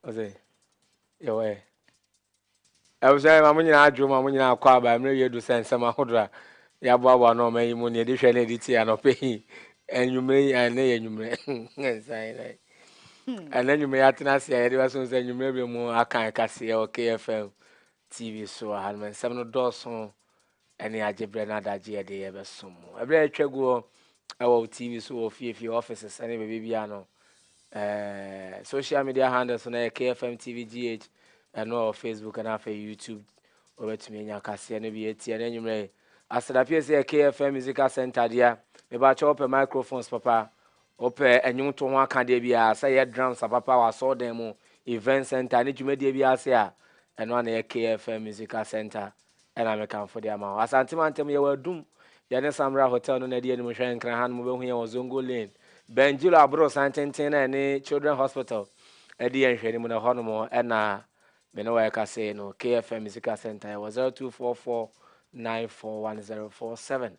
ɔsɛ yɛwɔ ɛ abusua ma mo nyinaa adwo ma mo nyinaa akɔ aba mmerɛ wie do sɛ nsɛm ahodoɔ a yɛaboaboa no ɔma yi mu ne yɛde hwɛ ne yɛde tie anɔpɛ yi anwummerɛ yi ɛnɛ yɛ anwummerɛ nsan na ɛnɛ anwummerɛ yɛatena ase a yɛde bɛso sɛ anwummerɛ bɛ mu aka ɛkaseɛ wɔ kfm tv so wɔ ha no nsɛm no dɔɔso Ɛne agye berɛ no adagyeɛ de yɛbɛsom mo. Ɛberɛ a atwa guo ɛwɔ wo TV so wɔ fie fie, offices ɛne baabi biara no, ɛɛ social media handles no yɛ KFM TV GH ɛno ɛwɔ Facebook ɛna afei YouTube wɔbɛtumi anya kaseɛ no bi atie ɛna anwummerɛ yi. Asadapie sɛ yɛ KFM Musical Center deɛ, mebakyɛ wopɛ microphones papa, wopɛ ɛnwomto ho akadeɛ biara, sɛ yɛ drums apapa wɔ asɔɔdan mu, event center ne dwumadie biara ase a, ɛno ana yɛ KFM Musical Center. na mekamfo de ama wo. Asante mantam, yɛwɔ adum. Yɛne Samra Hotel no na adi anim. Hwɛ nkran ha no, mobɛhu yɛn wɔ Zongo Lane, Bendjilo aborosan tenten no a ɛne Children Hospital di yɛn nhwɛanim no, ɛhɔnom na me ne wo reka sei no. KFM Sika Centre, yɛwɔ 0244 941047.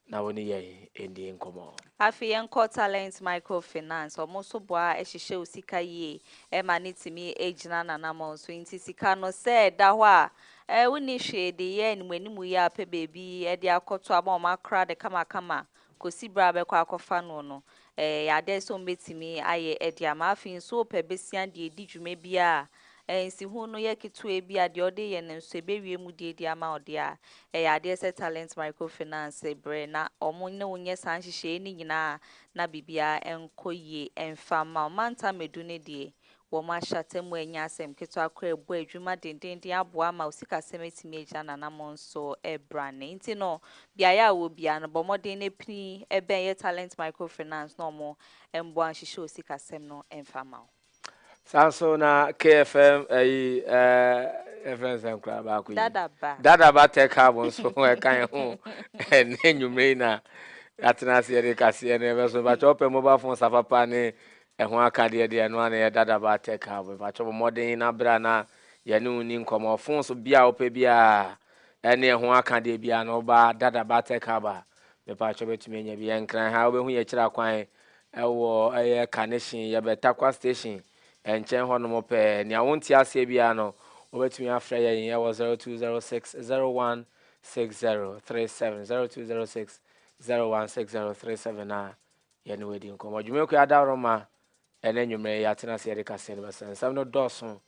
Na wo ne yɛn ɛndie nkɔmɔ. Afei yɛn kɔ Talent Micro Finance, ɔmo nso boa hyehyɛ osika yie ɛma no tumi ɛgyina nanamɔn so, nti sika no sɛ ɛda hɔ a ɛɛ wo nni hwee de yɛ anim anim yi a pɛ baabi ɛde akɔto ama ɔmo akora de kama kama kɔsi berɛ a bɛkɔ akɔfa noɔ no, Ɛyɛ a dɛn sɛ wobetumi ayɛ de ama? Afei nso wopɛ bɛsua de adi dwuma bi a nsiho no yɛ ketewa bi a deɛ ɔde reyɛ no nso ɛbɛwie mu de adi ama wo deɛ a, ɛyɛ adeɛ sɛ Talent Microfinance brɛ na wɔn ne wo nyɛ saa nhyehyɛeɛ no nyinaa na biribiara nkɔ yie mfa mma wo. Mantam Madu no deɛ, Wɔn ahyɛaseɛ mu ɛnyɛ asɛm ketewa koraa ɛbɔ adwuma dendeenden aboa ama wo sikasɛm atumi agyina n'anammɔn so ɛbrane. Nti no, beaeɛ a wowɔ biara no, bɔ mmɔden na pini bɛn yɛ Talent Microfinance na wɔn mmoa nhyehyɛ wo sikasɛm no mfa mma wo. Saa nso na KFM ayi eh, yɛfrɛ no sɛn koraa baako yi? Dadaba. Dadaba Tech Hub nso ɛka yɛn ho ɛnɛ nwummerɛ yi na yɛatena ase yɛde kaseɛ no yɛbɛso. Mpakyɛ wopɛ mobile phone sapapa ne Ɛho akadeɛ deɛ ɛno ara na ɛyɛ dada baa tech hub. Mpakyɛw bɔ mmɔden nyina bere a na yɛne wo nni nkɔmmɔ. Ɔfon so bia a wopɛ biara ɛne ɛho akadeɛ biara no woba dada baa tech hub a mepakyɛw bɛtumi anya bi. Yɛn nkran ha wobɛhu yɛn akyiri akwan ɛwɔ ɛyɛ Kanehyen yɛbɛ Tarkwa station ɛnkyɛn hɔ nom pɛɛ. Nea wonte aseɛ biara no wobɛtumi afrɛ yɛn ɛwɔ 0206 016037 0206 016037 a Yɛne wo adi nkɔmmɔ. Dwumadikuo yi adaworoma ne anwummerɛ yi yɛatena ase yɛde kaseɛ no bɛsra. Nsɛm no dɔɔso.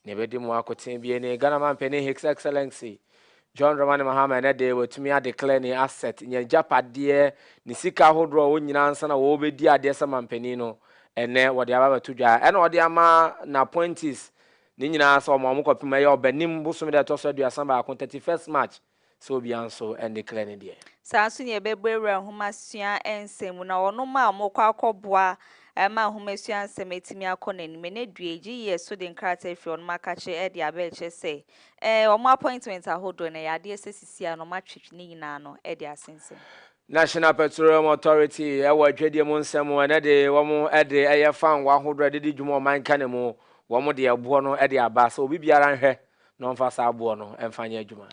Nea ɛbɛdi mu akotene bie ne Ghana Mampanin His Excellency John Dramani Mahama ɛnɛ de watumi adeclare ne asset, n'agyapadeɛ, ne sika ahodoɔ a ɔwɔ nyinaa ansa na wɔrebɛdi adeɛ sɛ mampanin no, ɛnɛ wɔde aba abɛto dwa. Ɛna ɔde ama n'appointees ne nyinaa sɛ wɔn a wɔkɔpem ɛyɛ Ɔbɛnem bosome da ɛtɔ so aduasa baako, 31st March. Sɛ obiara nso andiklɛɛ ne deɛ. Saa ara nso na yɛbɛbɔ awura nhomasua nsɛm mu, na wɔnom a wɔkɔ akɔboa ma nhomasua nsɛm atumi akɔ n'anim ɛnnɛ due yi, gye yɛ so de nkrataa afiri wɔnom akakyere de aba ɛkyerɛ sɛ ɛɛ wɔn appointment ahodoɔ no ɛyɛ adeɛ sɛ sisi a na wɔatwetwe ne nyina ano de asensɛn. National Petroleum Authority ɛwɔ adwadie mu nsɛm mu ɛnnɛ de wɔn de ɛyɛ fangoo ahodoɔ ɛde di dwuma ɔman kane mu, wɔn de ɛboɔ no de aba sɛ obi biara nhwɛ na ɔmfa saa boɔ no mfa nyɛ adwuma.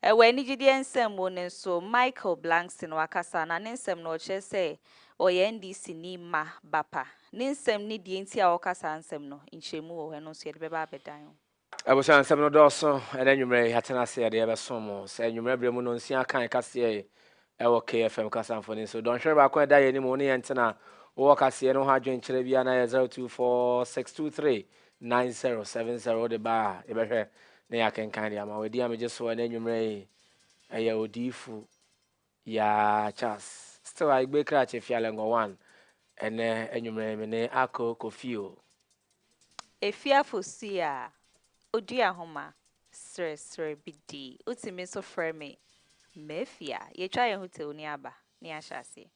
Wɔ anigyedeɛ nsɛm mu no nso, Michael Blankson wakasa, na ne nsɛm no ɔkyerɛ sɛ ɔyɛ NDCni mma ba pa. Ne nsɛm ne deɛ nti a ɔreka saa nsɛm no, nkyerɛmu wɔ hɔ, ɛno nso yɛde bɛba abɛdan ho. Abusua nsɛm no dɔɔso ɛnɛ anwummerɛ yi, yɛatena ase yɛde rebɛsom mo. Sɛ anwummerɛ berɛ mu no, nsia aka a yɛka seɛ yi wɔ KFM kasamfonin so. Dɔnhwere baako a ɛda yɛn anim, wo ne yɛn ntena, wowɔ kaseɛ no ho adwenkyerɛ bi a na yɛ 024623 nine zero seven zero wode ba a yɛbɛhwɛ na yɛakenkan de ama wo ɛdi a megye so ɛna anwummerɛ yi ɛyɛ odiifo yaa charles still a igbe krakye fialɛngɔ one ɛnɛ anwummerɛ yi me ne akɔ kofio efiafo si a odua homa serɛserɛ bi di wotumi nso frɛ me mafia yɛtwa yɛn ho tew ne aba ne ahyɛ aseɛ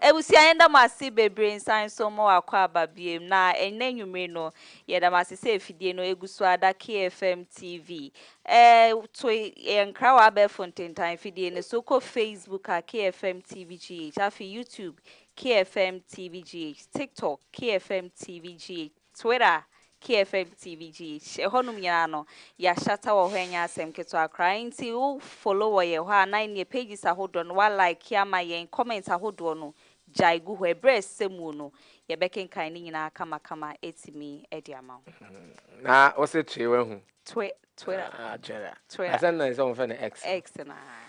Ebusua yɛda mo ase bebree nsan so mo akɔ aba biom na ɛnɛ nwumire no yɛda mo ase sɛ efidie no egu so ara da KFM TV eh to yɛ nkra wɔ abɛɛfo ntentan efidie no so kɔ Facebook a KFM TV GH afi YouTube KFM TV GH TikTok KFM TV GH Twitter, KFM TVG, hyɛ hɔnom nyinaa no yɛ ahyata wɔ hɔ ɛnyɛ asɛm ketewa koraa enti wo follow wɔ yɛn hɔ a na ɛneɛ pages ahodoɔ no wa like ama yɛn comment ahodoɔ no gyae gu hɔ ɛberɛ a ɛsɛ muo no yɛbɛkenkan ne nyinaa kamakama atumi de ama wo. Na wo se twee wahu. Twe, Twitter. Ah, Twitter. Twitter. Asɛm na ɛsɛ wɔn fɛ no X. X no, ahaa.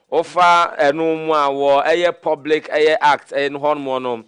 Wofa ɛno mu a, wɔ ɛyɛ public ɛyɛ act ɛyɛ no hɔnom no,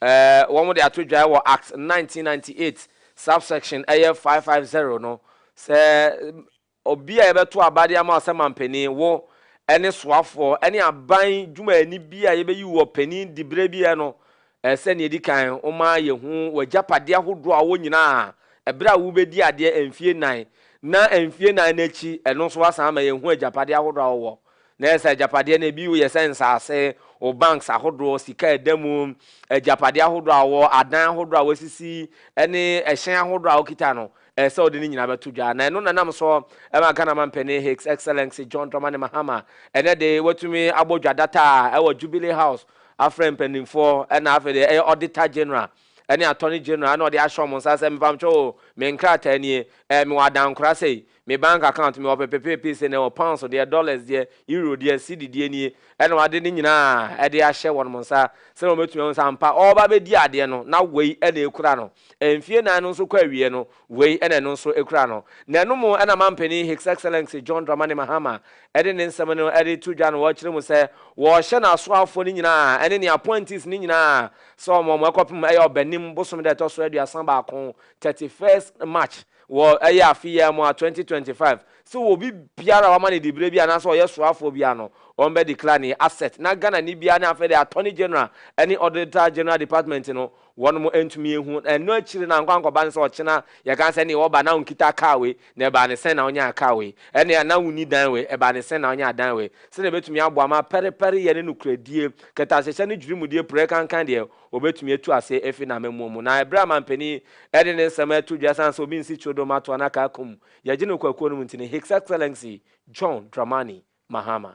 ɛɛ wɔn de ato dwaɛ wɔ act nineteen ninety eight subsection ɛyɛ five five zero no sɛ obi a yɛbɛto aba de ama ɔsɛ manpanin, wo ɛne soafoɔ ɛne aban dwumayɛni bi a yɛbɛyi wɔ panin diberɛ bi ɛ no Ɛsɛ sɛ nea edi kan woma yehu w'agyapade ahodoɔ a wɔ nyinaa ɛberɛ a wobɛdii adeɛ mfie nnan, na mfie nnan no akyi ɛno nso woasan ama yɛahu agyapadeɛ ahodoɔ a wowɔ. Na ɛyɛ sɛ agyapadeɛ no ebi yɛ sɛ nsase, wo banks ahodoɔ, sika a ɛda mu, agyapadeɛ ahodoɔ a wowɔ, adan ahodoɔ a woasisi, ne ɛhyɛn ahodoɔ a wokita no. Ɛyɛ sɛ ɔde ne nyinaa bɛto dwa, na ɛno na ɛnam so ma Ghana Mampanin His Excellency John Dramani Mahama ɛnnɛ de watumi abɔ dwa data a ɛwɔ Jubilee House afrɛ mpanimfoɔ na afei deɛ ɛyɛ Auditor General ne Attorney General na ɔde ahyɛ wɔn nsa sɛ mepamtwa o, me nkrataa nie, eh, mewɔ adankora sei, me bank account mewɔ pepepepe sei na ɛwɔ pounds deɛ, dollars deɛ, euro deɛ, cedi deɛ nie, ɛna wade ne nyinaa ɛde ahyɛ wɔn nsa sɛ wɔbɛtumi ahu sɛ ampa ɔreba bɛdi adeɛ no na wei ɛna ɛkura no. Mfie nnan no nso kɔ awiei no, wei na ɛno nso kura no. Na ɛno mu na Mampanin His Excellency John Dramani Mahama de ne nsɛm no de to dwa na ɔkyerɛ mu sɛ wɔrehyɛ n'asoafoɔ no nyinaa ɛne ne appointees no nyinaa sɛ wɔn wɔn ɛkɔpem ɛyɛ Ɔbɛnem bosome da ɛtɔ so aduasa baako, 31st March, wɔ ɛyɛ afe yi ara mu a 2025, sɛ obi biara a wɔama no diberɛ bi anaasɛ ɔyɛ soafoɔ biara no, wɔbɛ declare ne asset na Ghanani biara ne afei deɛ Attorney General ne Auditor General Department no Wɔnom antumi anhu na ɛno akyiri no ankɔ ankɔba no sɛ ɔkyena yɛka sɛ ɛneɛ ɔba na ɔnkitaa car wei na ɛbaa ne sɛn na ɔnyaa car wei ɛneɛ na ɔnni dan wei ɛbaa ne sɛn na ɔnyaa dan wei sɛdeɛ ɛbɛtumi aboa ma pɛrepɛre yɛ ne nokorɛdie kɛtɛahyɛhyɛ ne dwirimudeɛ pire kankan deɛ ɔbɛtumi atu ase afiri n'amammuo mu na ɛberɛ a mampanin ɛde ne nsɛm ɛto dwa ɛsan sɛ obi nsi kyeredo mma toa na car kum yɛgye no kwakuo no mu nti no His Excellency John Dramani Mahama.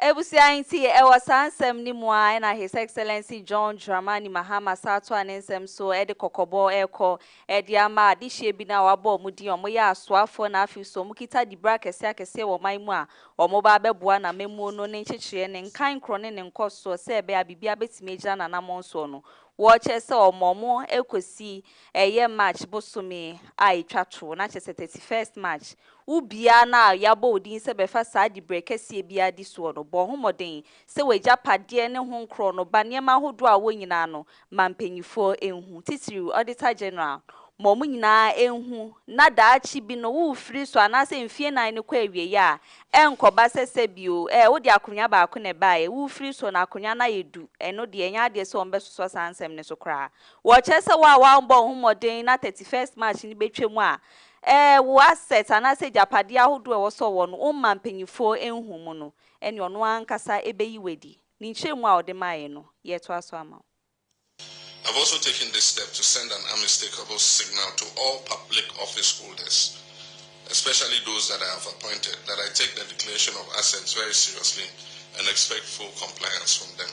Abusua nti, ɛwɔ saa nsɛm no mu ara na His Excellency John Dramani Mahama san atoa ne nsɛm so de kɔkɔbɔ rekɔ de ama adehyeɛ bi no a wɔabɔ wɔn din, wɔyɛ asoafoɔ na afei nso wɔkita dibere akɛseɛ akɛseɛ wɔ ɔman mu a wɔreba abɛboa n'amammuo no, ne nkyekyereɛ, ne nkan korɔ ne ne nkɔsoɔ sɛ ɛbɛyɛ a biribiara bɛtumi agyina n'anammɔn soɔ no, wɔkyerɛ sɛ wɔma wɔn kɔsi ɛyɛ March bosome a ɛtwa toɔ, na kyerɛ sɛ thirty first March Wo biaa no a yɛabɔ wo din sɛ bɛfa saa diberɛ kɛseɛ biaa di soɔ no, bɔ ho mmɔden sɛ w'agyapadeɛ ne ho nkorɔ no ba nneɛma ahodoɔ a wɔ nyinaa no ma mpaninfoɔ nhu, titiriw Auditor General, ma wɔn nyinaa nhu na daakye bi no wo firi so anaasɛ mfie nan no kɔ awieɛ a ɛnkɔba sɛ sɛbio ɛɛ wode akonwa baako na ɛbaeɛ wo firi so no akonwa no ayɛ du, ɛno deɛ ɛnyɛ adeɛ sɛ wɔbɛsosɔ saa nsɛm no so koraa. Wɔkyerɛ sɛ wo a woambɔ wo ho mmɔden na thirty first March no bɛtwam a Ɛɛ, wo assets anaasɛ agyapadeɛ ahodoɔ a ɛwɔ sɛ ɔwɔ no, womma mpanimfoɔ nhu mu no, ɛnneɛ ɔno ankasa bɛyi wo adi. Ne nkyerɛmu a ɔde maeɛ no, yɛretoa so ama wo. I've also taken this step to send an unmistakable signal to all public office holders, especially those that I have appointed, that I take their declaration of assets very seriously and expect full compliance from them.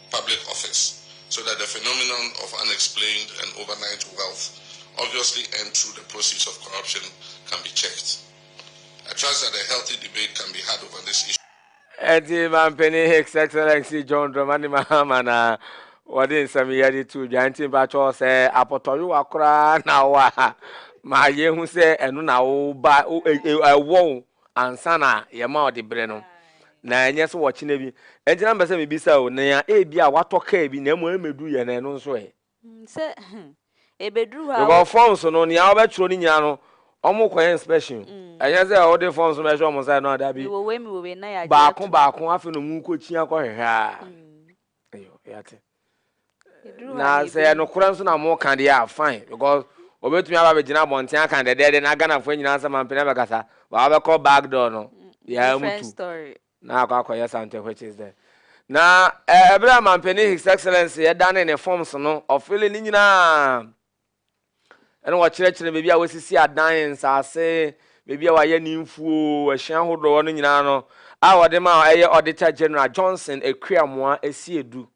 public office so that the phenomenon of unexplained and overnight wealth obviously earned through the proceeds of corruption can be checked. I trust that a healthy debate can be had over this issue. Enti Mampanin His Excellency John Dramani Mahama na wɔde nsɛm yi de too dwa nti mpakyɛ sɛ apɔtɔyowa koraa na wɔ a ma yɛhu sɛ ɛno na woba ɛwɔ ansa na yɛma ɔde brɛ no, na ɛnyɛ sɛ wɔkyena bi. Ɛnti na mepɛ sɛ mebisa o, nea ebia watɔ kaa bi na mmom ɛmmɛduru yɛn no, ɛno nso ɛ? Hmm, sɛ hmm, ɛbɛduru hɔ a. Because forms no, nea wɔbɛtwerɛ no nyinaa no, wɔkɔyɛ inspection. Hmm. Ɛnyɛ sɛ wode forms no bɛhwɛ wɔn sɛ no adabi. Mewɔ wei, mewɔ wei, na yɛagye ato. Baako baako, afei na wɔkɔkyia kɔhwehwɛ a. Hmm. Na sɛ yɛ nokorɛ nso na mo ka deɛ a fine because obetumi aba abɛgyina abɔnten aka no dɛdɛɛdɛ na Ghanafoɔ nyinaa nsa mampene abɛkasa but wabɛkɔ back door no yɛa mu tu na akɔ akɔyɛ something which is the na ɛberɛ a mampene his excellence yɛdane ne forms no ɔfele ne nyinaa Ɛna wɔkyerɛkyerɛ baabi a wɔasisi adan, nsase, baabi a wɔayɛ ne mfuo, ɛhyɛn ahodoɔ no nyinaa no a wɔde ma ɛyɛ Auditor General Johnson Akuamoa Asiedu.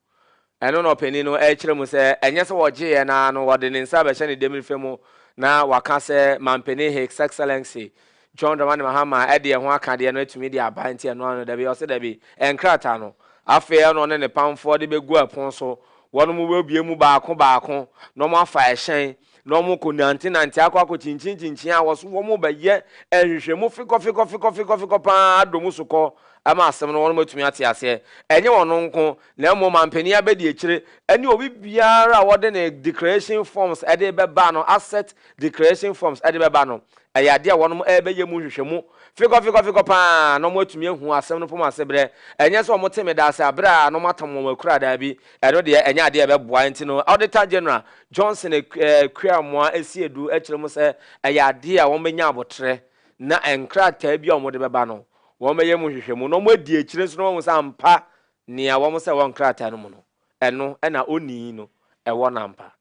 Ɛno na ɔpanin no rekyerɛ mu sɛ ɛnyɛ sɛ wɔgyeeɛ no ara no wɔde ne nsa bɛhyɛ ne damirefa mu na waka sɛ Mampanin His Excellency John Dramani Mahama a ɛdeɛ ho aka deɛ no atumi de aba nti ɛno ano dabi? Ɔse dabi, nkrataa no afei ɛna ɔne ne pamfoɔ de bɛgu ɛpono so, wɔnom bɛbue mu baako baako na wɔn afa ɛhyɛn na wɔn kɔ nante nante akɔ akɔ kyinkyin kyinkyin a wɔso wɔn ba yɛ nhwehwɛmu fikɔ fikɔ fikɔ fikɔ fikɔ paa adɔ mu so kɔ ama asɛm no wɔnom atumi ate aseɛ, ɛnyɛ wɔnom nko Na mmom ampanin abadiakyire ne obi biara a wɔde ne declaration forms de bɛba no, asset declaration forms de bɛba no, ɛyɛ adeɛ a wɔnom ɛrebɛyɛ mu nhwehwɛmu fekɔfekɔfekɔ pa ara na wɔn atumi ahu asɛm no pom ase berɛ. Ɛnyɛ sɛ wɔn te me da ase a berɛ a na wɔn atam wɔn akura daabi, ɛno deɛ ɛnyɛ adeɛ a ɛbɛboa nti no Auditor General Johnson Akuamoah si adu kyerɛ mu sɛ ɛyɛ adeɛ a wɔn bɛnya aboterɛ na nkrataa bi a wɔn de bɛba no wɔn bɛyɛ mu nhwehwɛmu na wɔn adi akyire nso na wɔahu sɛ ampa Nea wɔn sɛ wɔ nkrataa no mu no, ɛno na onii no wɔ no ampa.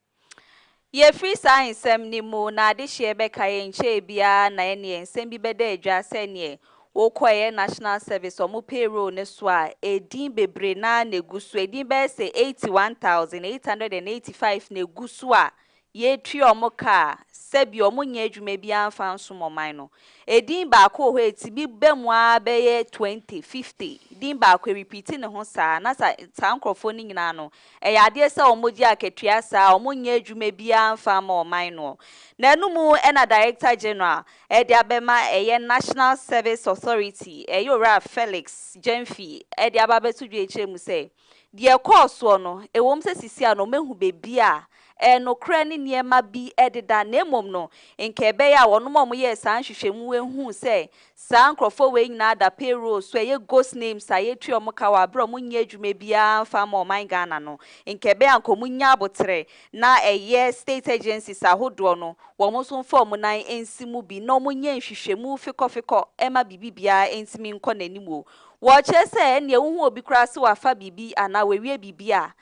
Yɛfiri saa nsɛm no mu na adehyeɛ bɛka yi nkyɛɛ biara na ɛneɛ nsɛm bi bɛda adwa sɛ neɛ wokɔ ɛyɛ National Service wɔn payroll no so a ɛdin bebree no ara na ɛgu so, ɛdin bɛyɛ sɛ 81,885 na ɛgu so a Yɛtua wɔn ka a, sɛbi wɔnyɛ adwuma biara mfa nsom ɔman no. Edin baako wɔ hɔ a ɛtumi ba mu ara bɛyɛ twenty, fifty. Din baako, ɛrepiiti ne ho saa. Na sa, saa nkorɔfoɔ no nyinaa no, ɛyɛ adeɛ sɛ wɔgye akatua saa a, wɔnyɛ adwuma biara mfa mma ɔman noɔ. Na ɛno mu na Director General de abɛma ɛyɛ National Service Authority, ɛyɛ Owura Felix Gyamfi de aba abɛto dwa akyire mu sɛ, Deɛ ɛkɔɔ soɔ no, ɛwom sɛ sisi a no mahu baabi a ɛyɛ nokorɛ ne nneɛma bi deda, na mmom no, nka ɛbɛyɛ a wɔnom a wɔyɛɛ saa nhwehwɛmu wei huu sɛ saa nkorɔfoɔ wei nyinaa da payroll so, ɛyɛ ghost names a yɛtua wɔn ka wɔ aberɛ a wɔnyɛ adwuma biara mfa mma ɔman Ghana no, nka ɛbɛyɛ a nka wɔnya aboterɛ na ɛyɛ state agencies ahodoɔ no wɔn nso mfa wɔn nan nsi mu bi na wɔnyɛ nhwehwɛmu fekɔfekɔ mma biribi biara ntumi nkɔ n'anim wɔ Wɔkyerɛ sɛ ɛnneɛ wohu obi koraa sɛ wafa biribi anaa wawie biribi a,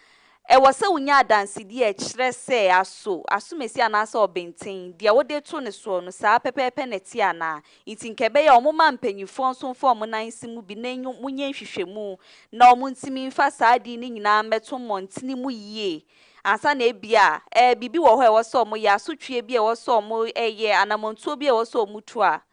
ɛwɔ sɛ wonya adansedie a ɛkyerɛ sɛ aso, asomasi anaasɛ ɔbenten, deɛ wode to ne soɔ no, saa pɛpɛɛpɛ na ɛteɛ anaa. Nti nka ɛbɛyɛ a wɔmma mpanimfoɔ nso mfa wɔn nan nsi mu bi na enyo monyɛ nhwehwɛmu na wɔntumi mfa saa ade no nyinaa mmɛto mmɔntene mu yie ansa na ebia ɛɛ biribi wɔ hɔ a ɛwɔ sɛ wɔyɛ, asotweɛ bi a ɛwɔ sɛ wɔyɛ, anammɔntuo bi a ɛwɔ sɛ wɔtu a.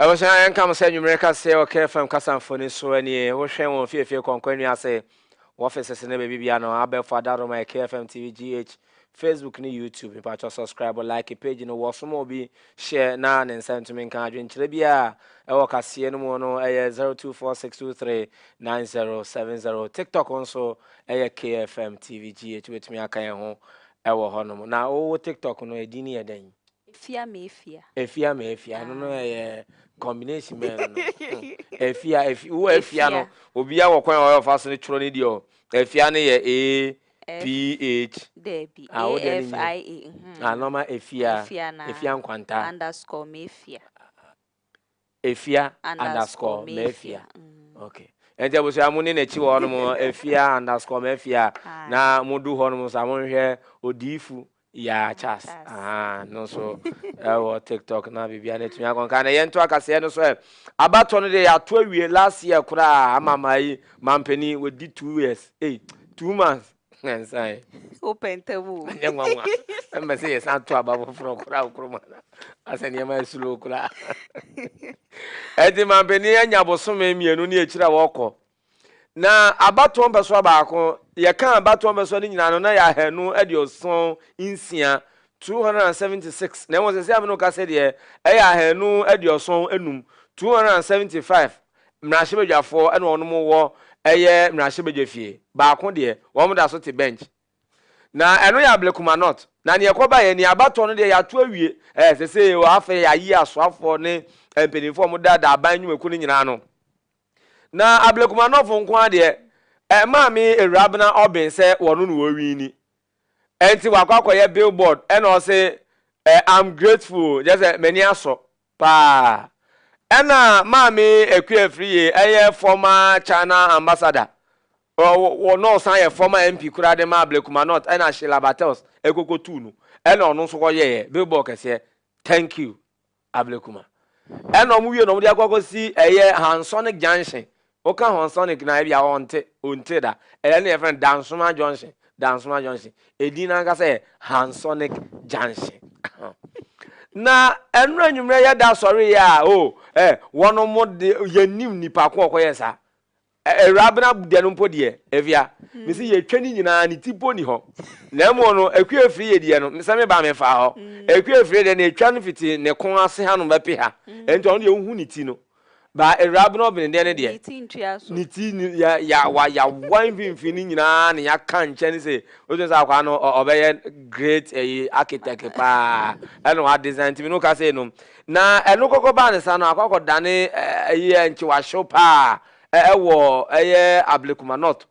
Abusua, yɛnka mo sɛ anwummere kaseɛ wɔ Care FM kasa mfoni so nie. Wohwɛ wɔn fiefie kɔnkɔ nnua ase, wɔ offices ne baabi biara no, abɛɛfo adaroma yɛ Care FM TV GH, Facebook ne YouTube. Mepakyɛw subscribe, like page no, wɔ som obi, share na ne nsa ntumi nka. Adwenkyerɛ biara ɛwɔ kaseɛ no mu no ɛyɛ 0246239070. TikTok nso ɛyɛ Care FM TV GH, wobɛtumi aka yɛn ho ɛwɔ hɔnom. Na wo TikTok no, ɛdin no yɛ dɛn? Efia me efia. Efia me efia ɛno no ɛyɛ combination bɛn no efia efi wo efia no obia wɔ kwan ɔyɛ ɔfa so no twerɛ ne deɛ ɔ efia no yɛ a ph dɛbi a wo deɛ no nyɛ a nɔma efia efia nkwanta underscore me efia Afia underscore Mafia. Okay. Nti abusua mo ne n'akyi wɔ hɔnom Afia underscore Mafia na mo du hɔnom sa mo nhwɛ odiifu yaa chas aha no nso ɛwɔ tiktok na biribiara no atumi akɔnka na yɛnto akaseɛ no so ɛ abatɔ no deɛ yɛato awie last year koraa ama maa yi mampani wɔdi two years ei two months Nansan. O pɛntɛ mu. Nyɛ nwanwa. Ɛmɛ sɛ yɛsan to aba foforɔ koraa nkoroma no asɛ nneɛma ɛsuro koraa. Ɛnti mampanin anya bosome mmienu ne akyiri a wɔkɔ. Na abatoɔ mpɛsoa baako yɛka abatoɔ mpɛsoa no nyinaa no na yɛ ahanu aduoson nsia 276 na ɛwɔ sɛ sɛ amene ka sɛ deɛ ɛyɛ ahanu aduoson enum 275 mmarahyɛbadwafoɔ na wɔn wɔ ɛyɛ mmarahyɛbadwafie, baako deɛ wɔn da so te bench. Na ɛno yɛ Ablekuma North. Na neɛ ɛkɔ baeɛ ni, abatoɔ no deɛ yɛato awie, ɛɛ sɛ sɛ yɛ afei yɛayi asoafoɔ ne mpanimfoɔ a wɔda da aban nnwumakuo no nyinaa no. Na Ablekuma North nko ara deɛ, ɛmaa me Awurabena Ɔben sɛ wɔn na wɔwini. Ɛnti wakɔ akɔyɛ billboard ɛna ɔse I'm grateful, kyerɛ sɛ m'ani asɔ. Paa. Ɛna Maame Akua Afriye ɛyɛ former China ambassador, ɔno na ɔsan yɛ former MP koraa de maa Blekuma North ɛna Sheila Bartels ɛkɔkɔ tuu no ɛna ɔno nso kɔ yɛɛ billboard kɛseɛ. Thank you Ablekuma. Ɛna ɔmo wie no ɔmo de akɔ akɔsi ɛyɛ Hansonic Junction Woka hɔn sonic no a, ebia ɔnntse, onntse da. Ɛyɛ na yɛfrɛ no Dansoma Junction, Dansoma Junction. Edin no ankasa yɛ Hansonic Junction. Na ɛno anwummerɛ yɛda sɔreeɛ a, o, ɛ, wɔn mo de, yɛnnim nipa ko ɔkɔyɛ saa. Ɛ- Awurabena deɛ no mpo deɛ, afia, me se yɛtwa ne nyinaa, ne ti mpo nni hɔ. Na mmom no, akua afiri yɛ deɛ no, me- sɛ meba mefaa hɔ. Akua afiri deɛ, na ɛtwa no fiti ne ko ase hanom bɛpe ha. Ɛnti ɔno deɛ wohu ne ti no, Ba awuraba no ɔbenedeɛ no deɛ, ne ti yɛawa mfimfini nyinaa na yɛaka nkyɛn sɛ wotumi sɛ akwaa no ɔbɛyɛ great ɛyi architect paa ɛna wa design ntumi no ka sɛ no na ɛno kɔkɔ baa ne sa no akɔ akɔ dane ɛyi nkyewahyew paa ɛwɔ ɛyɛ ablekuma north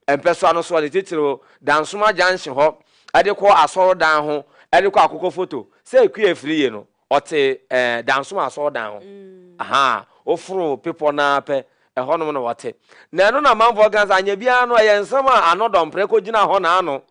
mpɛsoa no so ne titiriw dansoma junction hɔ ɛde kɔ asɔrɔdan ho ɛde kɔ akokɔ foto sɛ kue afiri yie no Ɔte eh, Dansomaa asɔɔdan ho. Ahaa, woforo bepɔ no ara pɛ, ɛhɔnom na ɔte. Na ɛno na amanfoɔ ka sɛ anyɛ biara no, ɛyɛ nsɛm a ano dɔ mprɛ kɔgyinaa hɔ na ano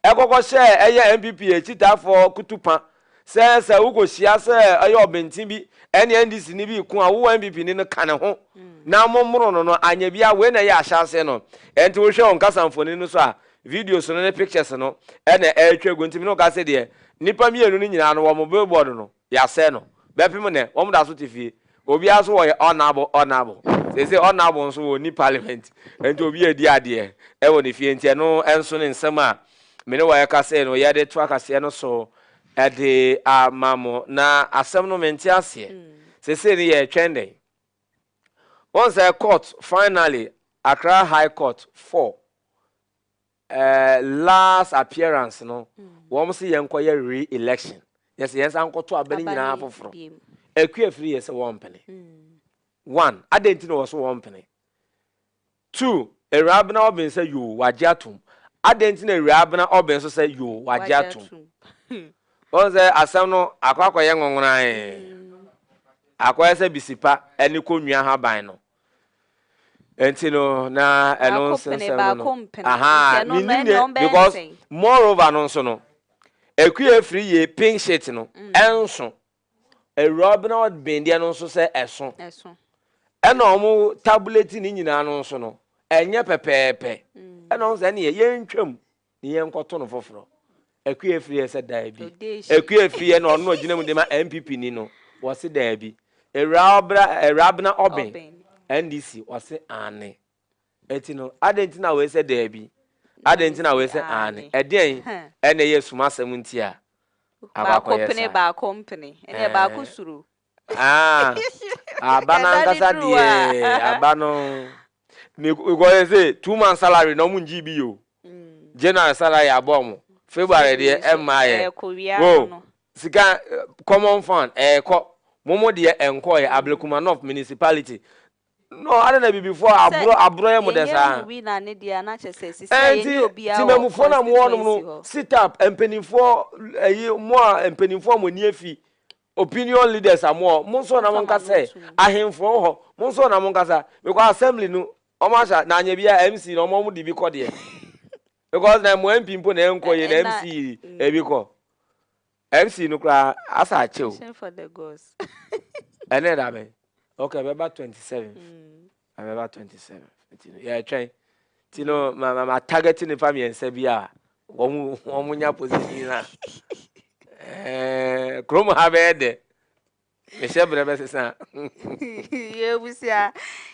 ɛkɔkɔ hyɛɛ ɛyɛ NPP akyitaafoɔ kutupa sɛ sɛ wokɔhyia sɛ ɛyɛ ɔbenten bi ɛne NDC ni bi reko a, wo NPP ni no ka ne ho na mommoro no no, anyɛ biara wei na ɛyɛ ahyɛaseɛ no. Ɛnti wohwɛ wɔn kasamfoni no so a, Videos no ne pictures no na ɛretwa gu nti me ne wo ka sɛ deɛ nnipa mmienu no nyinaa no wɔn billboard no yɛasɛe no bɛpem nnɛ wɔn da so te fie obiara nso wɔyɛ honourable honourable seesei honourable nso wɔnni parliament nti obi adi adeɛ ɛwɔ ne fie nti ɛno nso ne nsɛm a me ne wɔyɛ ka sɛ no yɛde to akaseɛ no so ɛde ama mo na asɛm no mente aseɛ seesei no yɛretwɛn dɛn Wɔn sɛ court finally Accra High Court for eh, last appearance no mm. wɔn sɛ yɛn kɔ yɛ re-election yɛ sɛ yɛn san kɔ to aba ne nyinaa foforɔ ɛkua firi yɛ sɛ wɔn mpene mm. one adɛn ti na wɔ so wɔn mpene Two, Awurabena Ɔben sɛ yoo, wagye atom. Adɛn nti na Awurabena Ɔben nso sɛ yoo, wagye atom? Woahu sɛ asɛm no akɔ akɔyɛ nwonwonae. Akɔyɛ sɛ bisipa ne kɔnnua haban no. Nti no, na ɛno nso nsɛm no no. Aha, mennim deɛ, because moreover no nso no, Akua firi yɛ pink shirt no, ɛnso. Awuraba na ɔben deɛ no nso sɛ ɛso. Ɛso. Ɛna wɔn tabuleti ne nyinaa no nso no, ɛnyɛ pɛpɛɛpɛ. Mm. Ɛna wɔn sɛ ɛneɛ yɛntwam ne yɛnkɔto no foforɔ. Akua efiri yɛ sɛ daabi. Odeeshi. Akua efiri yɛ na ɔno na ɔgyina mu de ma NPP ni no, wɔse daabi. Awuraba, awuraba na ɔben. Ɔben. NDC, wɔse aane. Enti no, adɛn nti na wɔsɛ daabi? Adɛn nti na wɔsɛ aane? Ɛdeɛn na ɛyɛ asum asɛm nti a baako pene saa? Baako mpene, ɛneɛ baako suro. Aba no ankasa deɛ, aba no, because they say two months salary na wɔn ngyee bi yɛ o. January salary abɔ wɔn, February deɛ ɛmmaa yɛ. Ɛkowia no. Sika common fund ɛɛkɔ, wɔn deɛ ɛnkɔɔ yɛ, Ablekuma North municipality. No, adɛn na Abibifoɔ a Sɛ aborɔ aborɔ yɛ mo dɛ yɛyɛ saa? hu wii na ne deɛ a na kyerɛ sɛ sisi a Ɛnti yɛnyɛ obiara wɔ Temanmufoɔ na mo wɔ nom no, constituency hɔ. sit up, mpaninfoɔ, ɛyi, mo a mpaninfoɔ a mo ani afi, opinion leaders a mo wɔ hɔ, mo nso na mo Momfa nka mo sɛ, ano nto mu. ahenfoɔ wɔ hɔ, mo nso na mo nkasa, because assembly no, wɔn ahyɛ, na anyɛ biara a, MC na wɔn a wɔde bi kɔ deɛ, because na mo MP mpo na ɛnkɔ yie, na Ɛna, MC de bi kɔ. MC no koraa asa akyɛ o. Ɛnɛ da bɛn? Ok ɛbɛba twenty seventh. Ɛbɛba twenty seventh. Nti no yɛretwɛn. Nti no ma ma ma target nipa mmiɛnsa bi a wɔn wɔn nya position a. Ɛɛ kurom ha bɛyɛ dɛ. Mehyɛ berɛ bɛsesa. Yɛn abusua,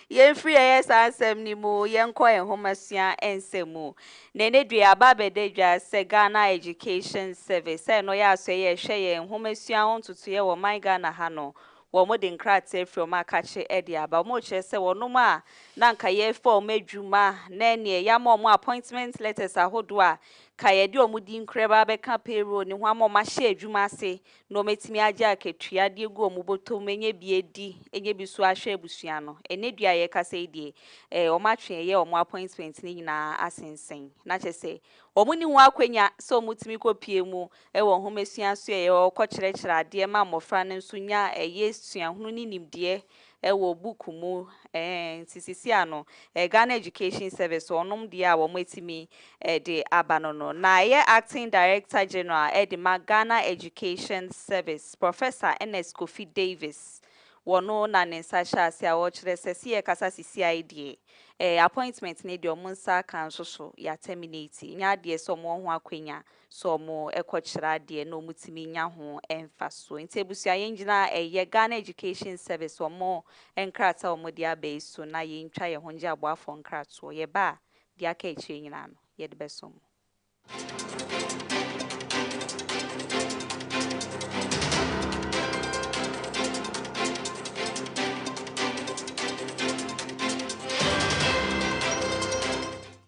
yɛmfiri yɛyɛ saa nsɛm no mu yɛnkɔ nhomasua nsɛm mu. Nnɛ no due aba abɛda dwa sɛ Ghana Education Service, sɛ ɛno yɛ asoɛeɛ a ɛhwɛ yɛn nhomasua ho ntotoeɛ wɔ ɔman Ghana ha no, wɔde nkrataa afiri wɔn akakye de aba. Wɔkyerɛ sɛ wɔnom a na anka yɛrefa wɔn adwuma ne neɛ yɛama wɔn appointment letters ahodoɔ a ka yɛde wɔn din koraa bɛba abɛka payroll no ho ama wɔahyɛ adwuma ase na wɔatumi agye akatua de agu wɔn bɔtɔ mu anya bi adi anya bi so ahwɛ abusua no. Ɛnnɛ dua a yɛrekasa yi deɛ, eh, wɔatwe ɛyɛ wɔn appointment no nyinaa asensɛn, na kyerɛ sɛ, wɔnni ho akwanya sɛ wɔtumi kɔpue mu wɔ nhomasua so ɛ, wɔkɔkyerɛkyerɛ adeɛ ma mmɔfra no nso nya ɛyɛ suahunu ne nimdeɛ Ɛwɔ book mu eeh nti sisi a no ɛyɛ Ghana Education Service so ɔnom deɛ a wɔn atumi de aba no no na ɛyɛ Acting Director General ɛde ma Ghana Education Service Professor Ernest Kofi Davis wɔ no na ne nsa hyɛ ase a ɔkyerɛ sɛ se yɛ kasa sisi a deɛ eeh appointment no deɛ wɔn nsa aka nso so yɛ a terminate ɛnyɛ adeɛ sɛ wɔn wɔ ho akwanya So wɔkɔkyerɛ adeɛ na wɔtumi nya ho mfasoɔ? Nti abusua yɛngyina ɛyɛ Ghana Education Service wɔn nkrataa a wɔde aba yi so na yɛntwa yɛn ho ngye aboafoɔ nkratoɔ. Yɛba a, deɛ aka akyire nyinaa no, yɛde bɛsom mo.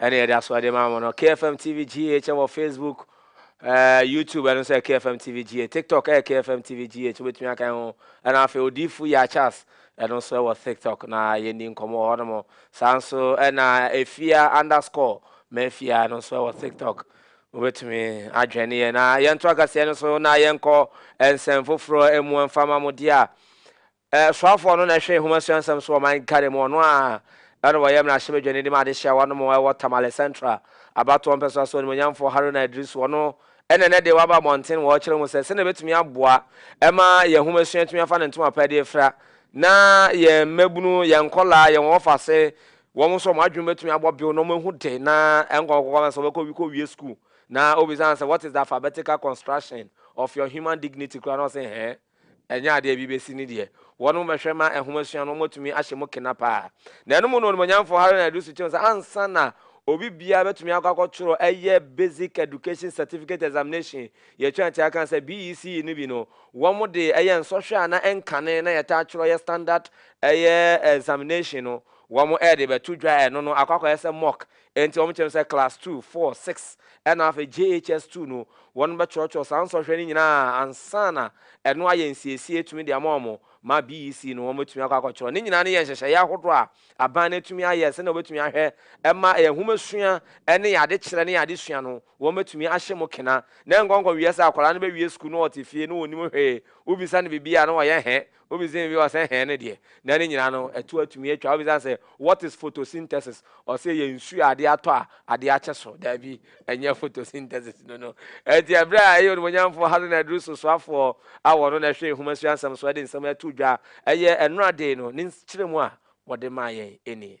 Ɛne yɛde aso ɛde ma mo no. KFM TV GH ɛwɔ Facebook, eh, YouTube ɛno nso yɛ KFM TV GH. TikTok ɛyɛ KFM TV GH wobɛtumi aka ho. Ɛna afei Odifo Yachas ɛno nso ɛwɔ TikTok na yɛndi nkɔmmɔ wɔ hɔ nom. Saa nso ɛna Efia underscore Mafia ɛno nso ɛwɔ TikTok. Wobɛtumi adwɛn ne yɛ na yɛnto akaseɛ no so na yɛnkɔ nsɛm foforɔ ɛmu ɛmfa ma mo deɛ a. Soafoɔ no na ɛhwɛ nwoma suansɛm so wɔ man Ghana mu, ɔno ara na ɔyɛ mmarahyɛbadwani de ma adehyeɛ awa no mu ɛwɔ Tamale Central, abatoɔ mpɛsoa so animuonyamfoɔ Haruna Iddrisu, ɔno na ɛnnɛ deɛ waba mmɔnten wɔ ɔkyerɛ mu sɛ sɛdeɛ ɛbɛtumi aboa ma yɛn nwoma sua atumi afa ne ntoma pa de afira na yɛn mmabunu, yɛn nkɔlaa, yɛn wɔfase, wɔn nso wɔn adwene bɛtumi abɔ bew na wɔahu de na ɛnkɔ nkɔkɔ ama sɛ wɔbɛkɔ kɔwie sukuu na ɔbisa no sɛ what is the alphabetical construction of your human dignity koraa na ɔse hɛɛ. Ɛnyɛ adeɛ a bi bɛsi ne deɛ wɔnom bɛhwɛ ma ɛnhoma sua no, wɔatumi ahyɛ mu kena pa ara. Na ɛno mu no Onimuonyamfoɔ Haruna Iddrisu kyerɛ mu sɛ ansa na obi biara bɛtumi akɔ akɔtwerɛ ɛyɛ Basic Education Certificate Examination, yɛtwa atua aka sɛ BECE no bi no, wɔde ɛyɛ nsɔhwɛ a na ɛnkane na yɛtaa twerɛ yɛ standard ɛyɛ examination no, wɔde bɛto dwa ɛno no akɔ akɔyɛ sɛ mock Enti wɔkyerɛ no sɛ Class Two, Four, Six ɛna afei JHS Two no, wɔnom bɛtwerɛtwerɛ saa nsɔhwɛ no nyinaa ansa na ɛno ayɛ nsiesie atumi de ama wɔn ma BEC no wɔn atumi akɔ akɔtwerɛ. Ne nyinaa no yɛ nhyehyɛeɛ ahodoɔ a aban no atumi ayɛ sɛdeɛ wɔbɛtumi ahwɛ ma yɛn nwomasua ne yɛn adekyerɛ ne yɛn adesua no wɔn atumi ahyɛ mu kena na ɛnkɔnkɔ nwiɛ sɛ akwadaa no bɛwie sukuu na ɔte fie na ɔnnim hwee, wobisa no biribi a na ɔyɛ hɛ, Obi dzen bi ɔsɛ hɛn no deɛ na ne nyinaa no ɛto atumi atwa. Obi san sɛ what is photosynthesis? Ɔsɛ yɛ nsu a ade atɔ a ade akye so. Daabi, ɛnyɛ photosynthesis no no. Ɛnti ɛberɛ a ɛyɛ Onimuonyamfoɔ Hazen Adrusu soafoɔ a wɔ no na ɛhwɛ Nhoma Sua Nsɛm so ɛde nsɛm ɛto dwa ɛyɛ ɛnora dee no ne nkyerɛmu a wɔde maa yɛn nie.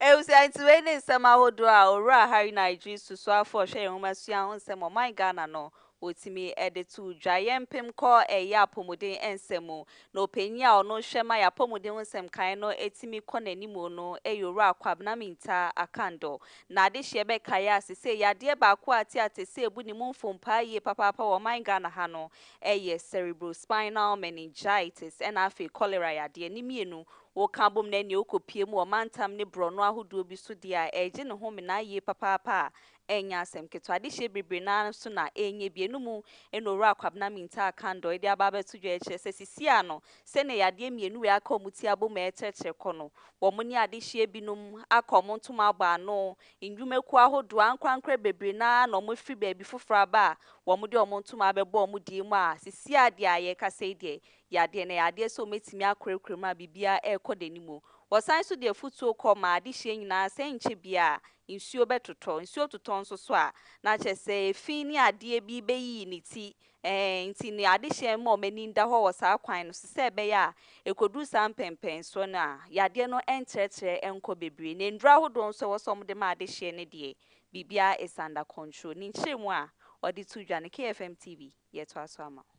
Abusua nti wei ne nsɛm ahodoɔ a Owura Harry Naidjiri Susuafo a ɔhwɛ yɛn nwomasua ho nsɛm wɔ ɔman Ghana no ɔtumi de too dwa. Yɛn mpem kɔ ɛyɛ apɔmuden nsɛm mu na ɔpanyin a ɔno hwɛ ma yɛn apɔmuden ho nsɛm kan no tumi kɔ n'anim no yɛ Owura Kwabena Mintah Akandor. Na adehyeɛ bɛka yɛ a sesei yadeɛ baako a teatesee bu ne mu mfom paa yie papaapa wɔ ɔman Ghana ha no yɛ Cerebrospinal Meningitis ɛna afei Cholera yadeɛ. Ne mmienu Woka bom na ɛnneɛ wokɔpue mu wɔ mantam ne borɔno ahodoɔ bi so deɛ a, ɛregye ne homena yie papaapa a ɛnyɛ asɛm ketewa. Adehyeɛ bebree no ara nso na ɛrenyɛ bi. Ɛno mu na Owura Kwabena Mintah Kandor de aba abɛto dwa kyerɛ sɛ seesei ara no, sɛdeɛ yadeɛ mmienu wei aka wɔn ti abom rekyerɛkyerɛ kɔ no, wɔn ne adehyeɛ binom aka wɔn ntoma abɔ ano, nnwumakuo ahodoɔ, ankorankorɛ bebree no ara na wɔafiri baabi foforɔ aba a wɔde wɔn ntoma abɛbɔ wɔn deɛ mu a seesei ara deɛ a yɛrekasa yi deɛ, yadeɛ na ɛyɛ adeɛ sɛ wɔatumi akorakora mu a biribiara rekɔ n'anim. Wɔsan nso de afutuo kɔ maa adehyeɛ nyinaa sɛ ɛnkyɛ biara a, nsuo bɛtotɔ. Nsuo totɔ nso so a, na kyerɛ sɛ efi ne adeɛ bi bɛyiyi ne ti. Ɛɛ nti no adehyeɛ mma wɔn ani nda hɔ wɔ saa kwan no so sɛ ɛbɛyɛ a, ɛkɔduru saa mpɛnpɛnsoɔ no a, yadeɛ no ntrɛtrɛ nkɔ bebree. Na nnuro ahodoɔ nso a ɛwɔ sɛ wɔde ma adehyeɛ no deɛ, biribiara is under control. Ne nkyerɛmu a wɔde to dwa no, KFM TV, yɛtoa so ama wo.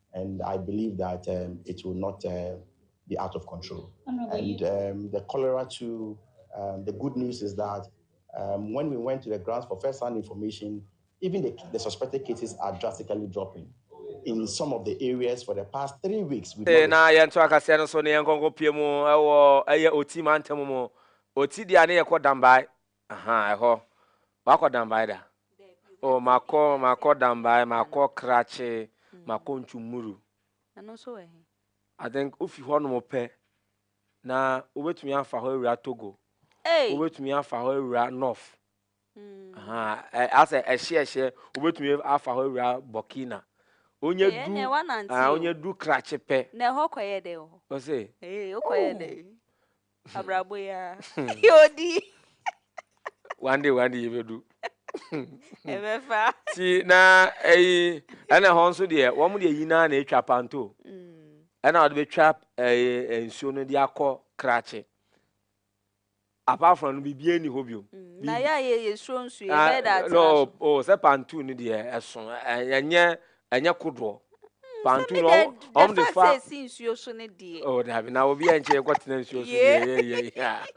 And I believe that um, it will not uh, be out of control. And um, the cholera too, um, the good news is that um, when we went to the grounds for first-hand information, even the, the suspected cases are drastically dropping. in some of the areas for the past three weeks. Eh, na yɛnto akaseɛ no so ne yɛnkɔnkɔ pie mu ɛwɔ ɛyɛ oti mantam mu oti deɛ ne yɛkɔ dambae Ahaa ɛhɔ wakɔ danbae da. Oh makɔ makɔ danbae makɔ krakye makɔ ntwumuru. Ɛno nso wɔ he? I think wofi hɔ nom pɛ na wobɛtumi afa hɔ awura Togo. Hey. Wobɛtumi afa hɔ awura North. Mm. Asɛ ɛhye ɛhye wobɛtumi afa hɔ awura Burkina. Onye du ɛnɛ wanante o. Onye du krakye pɛ. Na ɛhɔ kɔyɛ dɛ wɔ hɔ. Ɔse. Ee wokɔyɛ dɛ. Abrabɔ yi ara. Yɛ odi. One day one day yɛbɛdu. Ɛbɛfa. Ti na ɛyi ɛna hɔn nso deɛ wɔn deɛ yi naa na etwa panto. Ɛna wɔde bɛtwa ɛyɛ nsuo no de akɔ krakye. Apart from no biribi ɛni hɔ bio. Na yɛ a yɛ yɛ suro nsuo yɛ bɛyɛ da atena so. No o sɛ panto no deɛ ɛso ɛnyɛ Ɛnyɛ kodoɔ. Hmm, Bantu no ɔmo de fa. Sɛ si nsuo so ne deɛ. Oh dabi na obi ɛnkyɛ yɛ kɔtena nsuo so deɛ yɛ yɛ yɛ.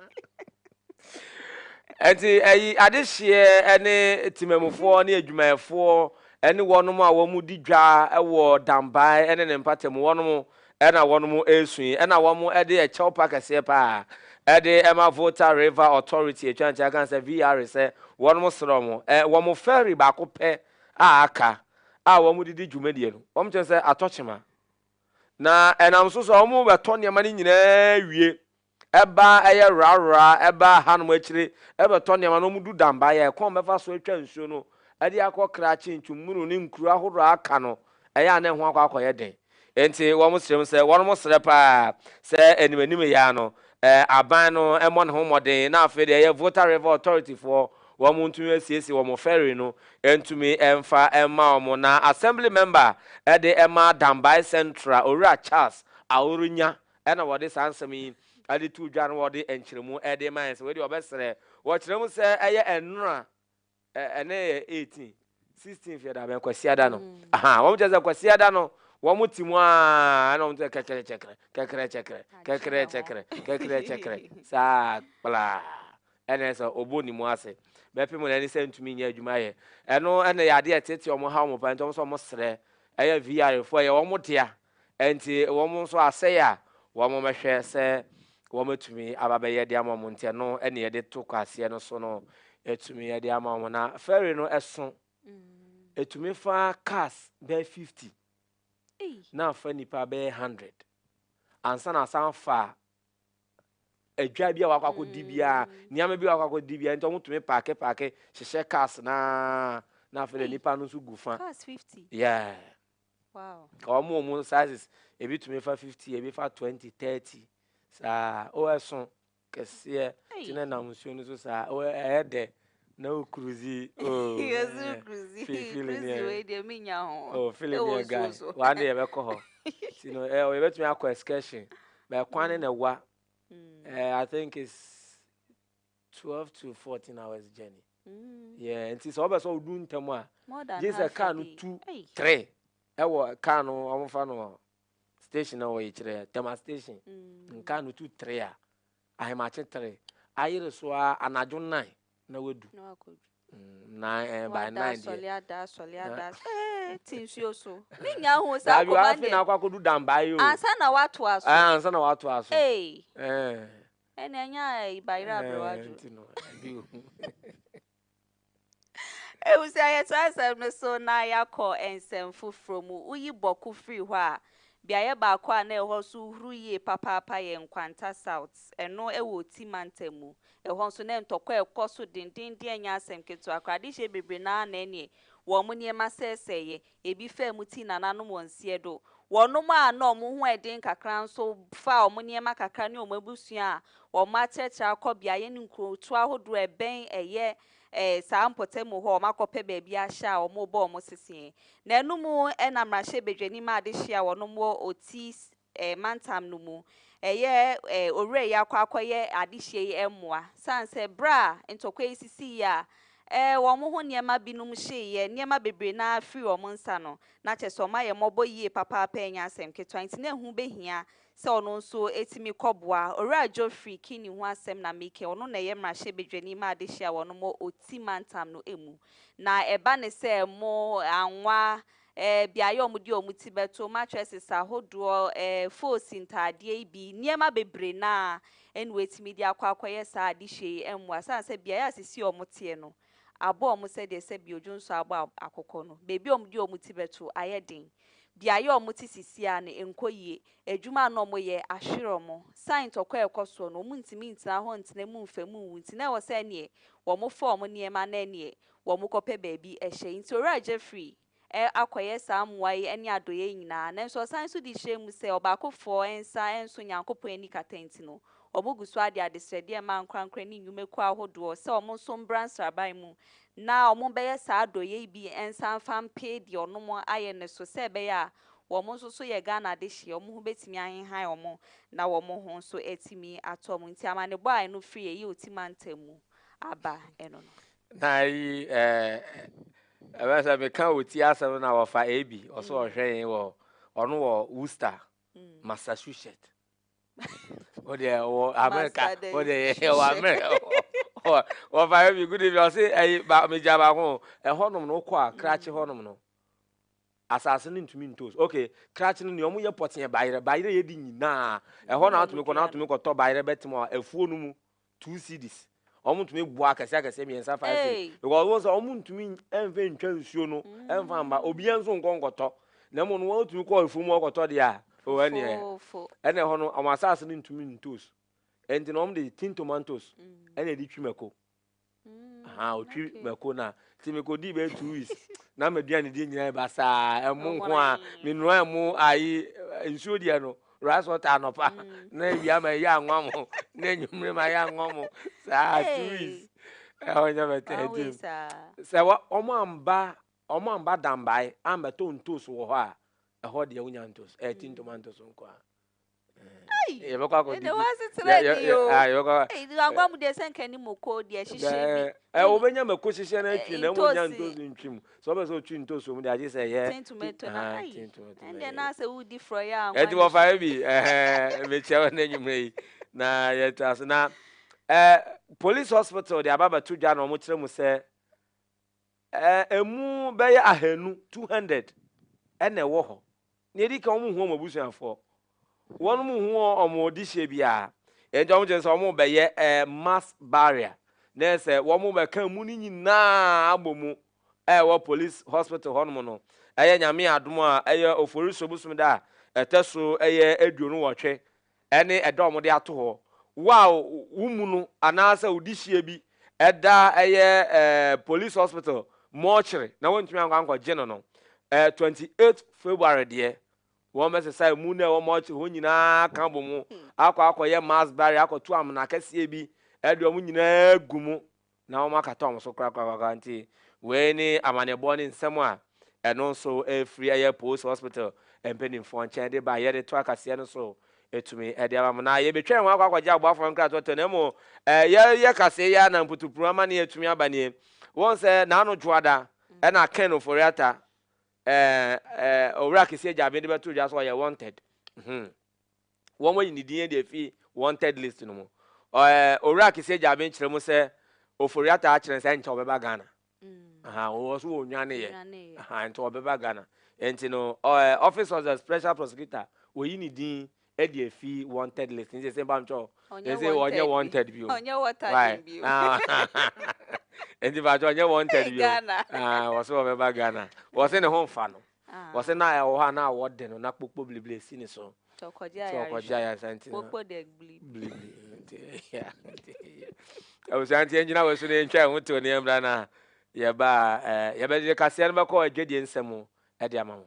Ɛnti ɛyi adehyeɛ ɛne temamufoɔ ne adwumayɛfoɔ ɛne wɔnom a wɔn di dwa ɛwɔ Dambae ɛne ne mpatamu wɔnom ɛna wɔnom ɛresu yi ɛna wɔn ɛde ɛkyɛw pa kɛseɛ paa ɛde ɛma Volta River Authority atwa nkyɛn kan sɛ VR sɛ wɔnom srɛ wɔn ɛ wɔn ferry baako pɛ a aka a wɔde di dwumadie no, wɔkyerɛ sɛ atɔ kyema, na ɛnam so sɛ wɔbɛtɔ nneɛma no nyinaa wie ba a ɛyɛ rarra ba a hanom akyire bɛtɔ nneɛma no wɔdu Damba yɛ kwan wɔbɛfa so atwa nsuo no de akɔ Krachi, Ntwumunu ne nkuro ahodoɔ a aka no, ɛyɛ a na ɛho akɔ akɔyɛ den. Enti wɔsrɛ mu sɛ wɔsrɛ paa sɛ animanim yɛ ara no aban no mmɔ ne ho mmɔden na afei deɛ ɛyɛ Volta River Authority foɔ wɔn ntumi asiesie wɔn ferry no ntumi mfa mma wɔn na Assembly Member de ma Dambai Central Owura Charles Aoronya na wɔde saa nsɛm yi de too dwa na wɔde nkyerɛmu de ma yɛn sɛ wei deɛ wɔbɛsrɛ wɔkyerɛ mu sɛ ɛyɛ nnora ɛnɛ yɛ eighteen sixteenth yɛda bɛn kwasiada no mm. aha wɔn kyerɛ sɛ kwasiada no wɔn ti mu aa ɛna wɔn sɛ kɛkɛrɛ kyɛkɛrɛ kɛkɛrɛ kyɛkɛrɛ kɛkɛrɛ kyɛkɛrɛ kɛkɛrɛ kyɛkɛrɛ saa kplaa ɛna sɛ ɔbɔ ne mu ase bɛpɛ mu na ɛne sɛ ntumi nyɛ adwuma yɛ ɛno ɛna yɛ adeɛ tete wɔn ha wɔn pa nti wɔn sɛ wɔn srɛ ɛyɛ vr fo ɛyɛ wɔn dea Enti wɔn nso asɛe a wɔbɛhwɛ sɛ wɔatumi aba abɛyɛ de ama wɔn nti, ɛno na yɛde to kwaaseɛ no so no tumi de ama wɔn. Na fɛre no so tumi fa cars bɛyɛ 50 na afa nnipa bɛyɛ 100 ansa na asan fa adwa bi a wakɔ akɔdi biara mm. nneɛma bi a wakɔ akɔdi biara nti wɔn tumi paake paake hyehyɛ cars na na afei de nipa no nso gu fa cars fifty yeah. Wow. Ka wɔn wɔn sizes, ebi tumi fa fifty, ebi fa twenty, thirty, saa o ɛso kɛseɛ ti na nam nsuo no so saa o ɛyɛ dɛ na o kuruzi o. Yɛsoro kuruzi kuruzi wei deɛ mi nya ho. O oh, fili ni ɛga wɔn de yɛbɛkɔ hɔ ti no ɛ yɛbɛtumi akɔ excursion bɛɛ kwan ne na ɛwa. Mm. Eh, I think it's Twelve to fourteen hours journey. Yeah, nti sɛ ɔbɛ sɛ ɔdu ntɛm a. Gye sɛ car no tu three ɛwɔ car no wɔn fa no station na wɔyɛ kyerɛ Tema station. Car no tu three a ahemakye three ayere so a anadwo nine na wadu. Nine eh, by nine deɛ. Sɔle ada sɔle ada ee ti nsuo so. Mi nya ho saa kɔma deɛ. Dabi afei na akɔ akɔdu dan baa yi o. Ansa na wato aso. Ansa na wato aso. Ee. Ɛna ɛnyɛ a ɛyi ba yere aberewa adwo. Nti no ɛdi ohu. Ehu sɛ yɛto asɛm no so na yɛakɔ nsɛm foforɔ mu. Woyi Bɔko firi hɔ a, beaeɛ baako a na ɛhɔ nso huru yie papaapa yɛ Nkwanta South. Ɛno wɔ Oti mantam mu. Ɛhɔ nso na ntɔkwa rekɔ so dendeenden ɛnyɛ asɛm ketewa koraa. Adehyeɛ bebree no ara na ɛneɛ wɔn nneɛma sɛesɛeɛ. Ebi faa mu tii nananom wɔ nseɛ do. Wɔnom a nna wɔn ho yɛ den kakra nso faa wɔn nneɛma kakra ne wɔn abusua a wɔn akyerɛkyerɛ akɔ beaeɛ ne nkurotoɔ ahodoɔ a ɛbɛn ɛyɛ ɛɛ saa mpɔtamu hɔ a wɔakɔpɛ baabi ahyɛ a wɔrebɔ wɔn seseɛ. Nanom na mmarahyɛbadwanim a adehye a wɔnom wɔ Otis mantam no mu yɛ owura yi akɔ akɔyɛ adehyeɛ yi mmoa. Sane sɛ berɛ a ntɔkwa yi sisiiɛ a wɔn ho nneɛma binom hyeeɛ, nneɛma bebree no ara firii wɔn nsa no, na kyerɛ sɛ wɔayɛ mmɔbɔ yie papaapa a ɛnyɛ asɛm ketewa. Enti na ɛho bɛhia sɛ ɔno nso tumi kɔboa. Owura Geoffrey Kinney ho asɛm na mereka yi, ɔno na ɛyɛ mmarahyɛbadwani ma adehyeɛ a wɔnom wɔ Oti mantam no mu. Na ɛba ne sɛ mo anwa eh, beaeɛ a wɔde wɔn ti bɛto, mattresses ahodoɔ, eh, foosi ntaadeɛ yi bi, nneɛma bebree no a ɛne wɔatumi de akɔ akɔyɛ saa adehyeɛ yi mmoa sane sɛ beaeɛ a sisi wɔn teɛ no abɔ wɔn sɛdeɛ sɛbi odwo nso abɔ akokɔ no, baabi a wɔde wɔn ti bɛto ayɛ den, beaeɛ a wɔte sisi a no nkɔ yie, adwuma a na wɔyɛ ahwere wɔn, sane ntɔkwa a ɛkɔ soɔ no wɔntumi ntena hɔ ntena mu mfa mu nwu nti na ɛwɔ sɛ ɛneɛ wɔfa wɔn nneɛma na ɛneɛ wɔkɔpɛ baabi hyɛ. Nti Owura Jeffrey ɛ akɔyɛ saa mmoa yi ne adɔeɛ yi nyinaa, nanso ɔsan nso de hyɛɛ mu sɛ ɔbaakofoɔ nsa nso Nyankopɔn ani kata nti no, wɔgu so ara de adesrɛdeɛ rema ankorankorɛ ne nnwumakuo ahodoɔ sɛ wɔn nso mbra nsraban mu na wɔbɛyɛ saa adɔeɛ yi bi nsa mfa mpee deɛ wɔnom ayɛ no so sɛ ɛbɛyɛ a wɔn nso so yɛ Ghana adehyeɛ wɔn ho bɛtumi ahehan wɔn na wɔn ho nso atumi atɔ wɔn. Nti amanebɔ a ɛno firi Eyi Oti mantam mu aba ɛno no. Na ayi ɛɛ ɛbɛ sɛ meka ɔti asɛm na wɔfa Abby ɔsɛ ɔhwɛ yɛn wɔ ɔno wɔ Worcester Massachusetts o deɛ wɔ America o deɛ yɛ wɔ America wɔfa Abby good evening ɔsɛ ayi ba megya baako ɛhɔnom no wokɔ a krakye hɔnom no asase no ntumi ntos ok krakye no nea ɔmo yɛ pɔteɛ bayerɛ bayerɛ yɛ di nyinaa ɛhɔ na atumi kɔ na atumi kɔtɔ bayerɛ bɛtɛm a afuo no mu two cedis wɔn tumi boa akɛse akɛse mmiɛnsa five cedis because wɔn sɛ wɔn ntumi nfa ntwa nsuo no nfa mba obiara nso nkɔ nkɔtɔ na mu no wɔn tumi kɔ efuo mu ɔkɔtɔ deɛ a o ɛnna yɛ ɛnna ɛhɔ no wɔn asaase no ntumi ntos ɛnti na wɔn de tin tomatoes ɛnna ɛde twi mako aha otwi mako na ti mi ko di bɛ two weeks na mɛ duane di nyinaa ba saa ɛmo nko a mi nua ɛmo ayi nsuo deɛ no. Ras Water anɔpa na awia ma ɛyɛ anwa mo na anwummere ma ɛyɛ anwa mo saa tuis ɛhɔ nyɛ bɛtɛɛtim sɛ wɔn amba wɔn amba dambae ambɛtɔ ntos wɔ hɔ a ɛhɔ deɛ wonya ntos ɛti ntoma ntos nko a yɛbɛkɔ akɔdidi yɛbɛkɔ agua mu deɛ sɛ nka ni moko deɛ hyehyɛ bi wobɛnya mako hyehyɛ no atwi na ɛmu nya ntos ntwi mu Sɛ ɔpɛ sɛ ɔtwi ntosoɔ mu deɛ agye sɛ yɛ. Tin tomato na ayi. Ɛndeɛ na sɛ wodi frɔyɛ a. Ɛnti wɔfa yɛ bi ɛhɛɛ mekyia wo nɛ nwummerɛ yi na yɛtra so na ɛɛ police hospital de aba bɛto dwa na wɔn kyerɛ mu sɛ ɛɛ emu bɛyɛ ahanu two hundred ɛna ɛwɔ hɔ Nea edi kan, wɔnhu wɔn abusuafoɔ. Wɔnhu wɔn dehyeɛ biara. Enti wɔkyerɛ sɛ wɔbɛyɛ mass burial, na ɛyɛ sɛ wɔbɛka amu no nyinaa abɔ mu wɔ police hospital hɔnom no. Ɛyɛ Nyame adom a, ɛyɛ Oforisuo bosome da a ɛtɔ so ɛyɛ aduonu-nwɔtwe. ne ɛda a wɔde ato hɔ wo a wommu no anaasɛ wo dehyeɛ bi da ɛyɛ Police Hospital mortuary na woantumi ankɔ ankɔgye no no, ɛyɛ twenty eight February deɛ, wɔbɛsesa ɛmu no a ɛwɔ mortuary hɔ nyinaa aka abɔ mu akɔ akɔyɛ mass burial akɔto amena kɛseɛ bi de wɔn nyinaa agu mu na wɔakata wɔn so korakorakoraa nti, wei ne amanneɛbɔ ne nsɛm a ɛno nso ɛrefiri ɛyɛ Post Hospital mpanimfoɔ nkyɛn de ba yɛde to akaseɛ no so tumi de ama mo. Na yɛbɛtwɛn wɔn akɔ akɔgye aboafoɔ no nkratoɔtoɔ na mmom yɛreyɛ kaseɛ yi ara na mputupuruwa amanneɛ atumi aba nie. Wohu sɛ Naano Dwoada ɛna Ken Ofori-Atta ɛɛ ɛɛ Owura Kese Gyabin de bɛtoo dwa sɛ ɔyɛ wanted. Hmm. wɔayi ne din adi afi wanted list no mu. Ɔɛ Owura Kese Gyaben kyerɛ mu sɛ Ofori-Atta akyerɛ no sɛ ɛnkyɛ ɔbɛba Ghana. Aha, ɔwɔ so ɔnwaneeɛ. Aha, ɛnkyɛ ɔbɛba Ghana. Ɛnti no, ɔɛ Office of the Special Prosecutor wɔayi ne din adi afi wanted list. Nti sɛ mpamkyɛw, ɛsɛ ɔnyɛ wanted bio. Ɔnyɛ wanted bio. Ɛnti mpamkyɛw ɔnyɛ wanted bio. Ghana. Aha, ɔwɔ so ɔbɛba Ghana. Ɔwɔ sɛ ne ho mfa no. Wɔse na ɛwɔ hɔ a na wɔde no na kpokpo blibli esi ne so nti ɔkɔgye ayaresa nti no blibli nti abusua nti yɛngyina wɔ so na yɛntwa ɛho to ne yɛmmra na yɛba yɛbɛde kaseɛ no bɛkɔ adwadie nsɛm mu ɛde ama mo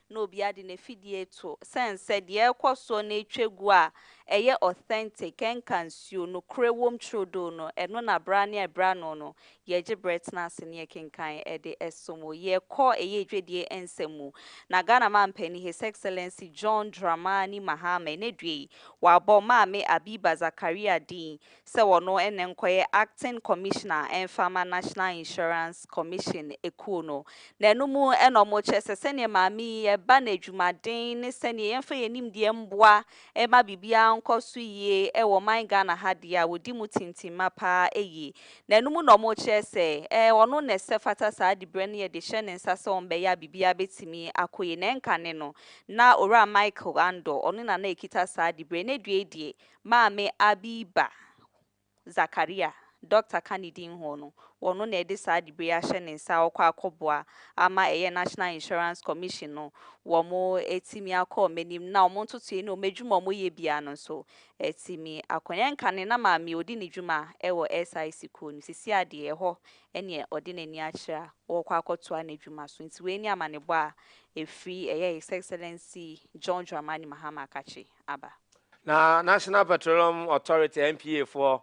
na obiara de n'afidie reto sɛn sɛ deɛ ɛrekɔ soɔ na ɛretwa gu a ɛyɛ authentic, ɛnka nsuo, nokorɛ wom trodoo no, ɛno na berɛ ara ne ɛberɛ ano no, yɛgye berɛ tena ase ne yɛkenkan de som wo. Yɛkɔ ɛyɛ dwadie nsɛm mu. Na Ghana Mampanin His Excellency John Dramani Mahama ɛnnɛ due yi, wabɔ Maame Abiba Zakaria din sɛ wɔno ne nkɔyɛ Acting Commissioner ɛmfa mma National Insurance Commission ekuo no, na ɛno mu na wɔn kyerɛ sɛ sɛdeɛ maame yi ɛba no adwumaden ne sɛdeɛ yɛmfa yɛn nimdeɛ mboa ɛma biribiara nkɔ so yie ɛwɔ ɔman Ghana ha deɛ a wɔdi mu tintimma paa ɛyie, na ɛno mu na wɔn kyerɛ sɛ ɛɛ ɔno na ɛsɛ fata saa dibrɛ no yɛde hyɛ ne nsa sɛ wɔn bɛyɛ a biribiara bɛtumi akɔ yie, na ɛnka ne no na Owura Michael Andor ɔno na na ɛkita saa dibrɛ, na due deɛ Maame Abby ba, Zakaria, dɔkta ka ne din ho no, ɔno na ɛde saa dibre yi ahyɛ ne nsa a ɔkɔ akɔboa ama ɛyɛ National Insurance Commission no wɔn atumi akɔ wɔn anim na wɔn ntotoeɛ ne wɔn adwuma a wɔyɛ biara no nso atumi akɔ yɛn nka ne na maame ɔdi ne dwuma wɔ SIC kuo no sisi adeɛ ɛhɔ ɛneɛ ɔde n'ani akyerɛ a ɔkɔ akɔtoa n'adwuma so nti wei ne amanebɔ a ɛfiri ɛyɛ His Excellency John Dramani Mahama Akakye aba. Na National Petroleum Authority, NPA, foɔ,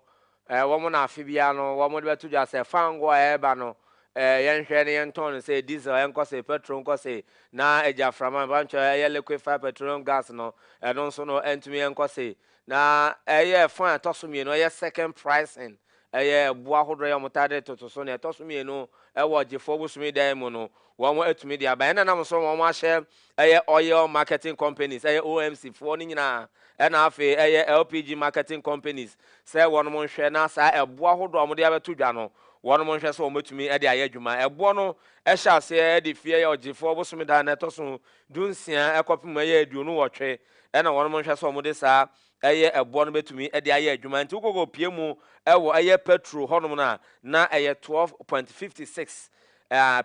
wɔn na afe biara no wɔn de bɛto dwa sɛ fango a ɛreba no, yɛnhwɛ na yɛntɔn no sei, diesel ɛnkɔ sei, petrol nkɔ sei, na agyaframa, mpankyɛ ɛyɛ liquefied petroleum gas no, ɛno nso no ɛntumi ɛnkɔ sei. Na ɛyɛ ɛfa a ɛtɔ so mmienu, ɛyɛ second pricing, ɛyɛ ɛboɔ ahodoɔ yɛ wɔn taa de toto so. Na ɛtɔ so mmienu, ɛwɔ ɔgyefoɔ bosome dan mu no, Wɔn atumi de aba ɛna nam so wɔn ahyɛ ɛyɛ oil marketing companies ɛyɛ OMC foɔ no nyinaa ɛna afei ɛyɛ LPG marketing companies sɛ wɔnom nhwɛ na saa ɛboɔ ahodoɔ a wɔde abɛto dwa no wɔnom nhwɛ sɛ wɔbɛtumi ɛde ayɛ adwuma. Ɛboɔ no ɛhyɛ aseɛ ɛde fi ɛyɛ ɔgyefoɔ bosome da a ɛtɔso dunsia ɛkɔpem ɛyɛ aduonu nwɔtwe ɛna wɔnom nhwɛ sɛ wɔde saa Ɛyɛ ɛboɔ no bɛtumi de ayɛ adwuma nti wokɔkɔ pie mu wɔ ɛyɛ petro hɔnom no a na ɛyɛ 12.56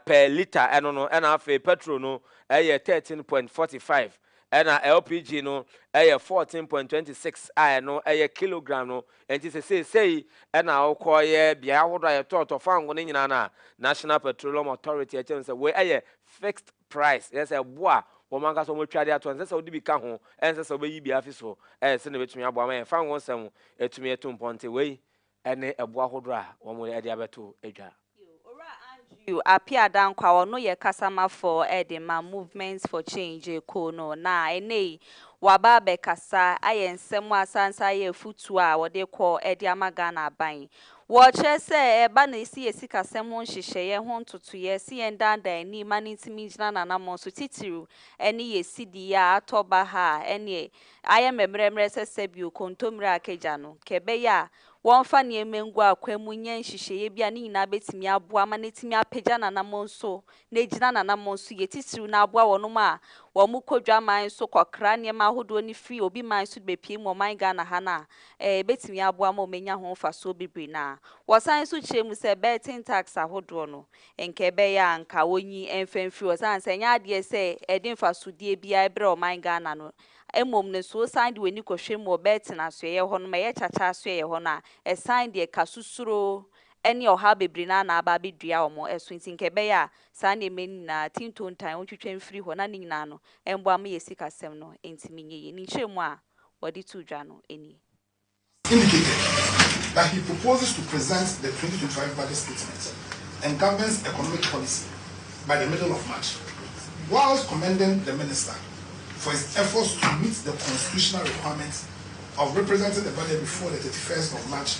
per litre ɛno no ɛna afei petro no ɛyɛ 13.45 ɛna LPG no ɛyɛ 14.26 a ɛno ɛyɛ kilogram no nti sesei sei ɛna wokɔ yɛ beaeɛ ahodoɔ a yɛtɔɔtɔ fango no nyinaa no a National Petroleum Authority ɛkyɛm sɛ wei ɛyɛ fixed price, ɛyɛ sɛ ɛbo a wɔn ankasa wɔatwa de ato hɔ, ɛnsɛ sɛ wode bi ka ho, ɛnsɛ sɛ wobɛyi bi afi so, ɛyɛ sɛnea ɛbɛtumi aboa ma yɛn fangoo nsɛm atumi atu mpɔn nti wei ne ɛbo ahodoɔ a wɔde abɛto dwa. Owura Andrew Appiah Dankwah, ɔno yɛ kasamafoɔ de ma Movement for Change kuo no, na ɛnnɛ yi waba abɛkasa ayɛ nsɛm a asanso ayɛ afutuo a wɔde rekɔ de ama Ghana aban Wɔkyerɛ sɛ ɛba na esi yɛn sikasɛm ho nhyehyɛeɛ ho ntotoeɛ se yɛn daadaa ani ma no ntumi ngyina n'anammɔn so titiriw ɛne yɛn sidi yi a atɔ baha a ɛneɛ ayɛ mɛmerɛmerɛ sɛ sɛbio kontommire a kagya no nka ɛbɛyɛ a wɔmfa nneɛma ngu akwan mu nyɛ nhyehyɛeɛ bi a ne nyinaa bɛtumi aboa ma no atumi apagya n'anammɔn so na egyina n'anammɔn so yɛ titiriw na aboa wɔnom a wɔkɔ dwaman so kɔkra nneɛma ahodoɔ no firi obi man so de bɛpue mu ɔman Ghana ha no a, ɛɛ, ɛbɛtumi aboa ma wɔanya ho mfasoɔ bebree na wɔsan nso kyerɛ mu sɛ Burton tax ahodoɔ no, nka ɛbɛyɛ a nka wɔnyi mfa mfiri hɔ ɛsiane sɛ ɛnyɛ adeɛ sɛ ɛde mfasodeɛ biara ɛbrɛ ɔman Ghana no mmom no so wosan de w'ani kɔhwɛ mu wɔ Burton asoɛeɛ hɔnom a ɛyɛ kyakya asoɛeɛ hɔ no a, ɛsan deɛ ka susuro ɛne ɔhaw bebree no ara na aba abɛdua wɔn so nti nka ɛbɛyɛ a saa nneɛma yi nyinaa, ti ntontan, wɔntwitwa mfiri hɔ na ne nyinaa no mmoa ma yɛn sikasɛm no ntumi nyɛ yie. Ne nkyerɛmu a wɔde too dwa no nie. indicated that he proposes to present the twenty twenty five budget statement and government's economic policy by the middle of March, whilst commending the minister for his efforts to meet the constitutional requirement of representing the budget before the thirty first of March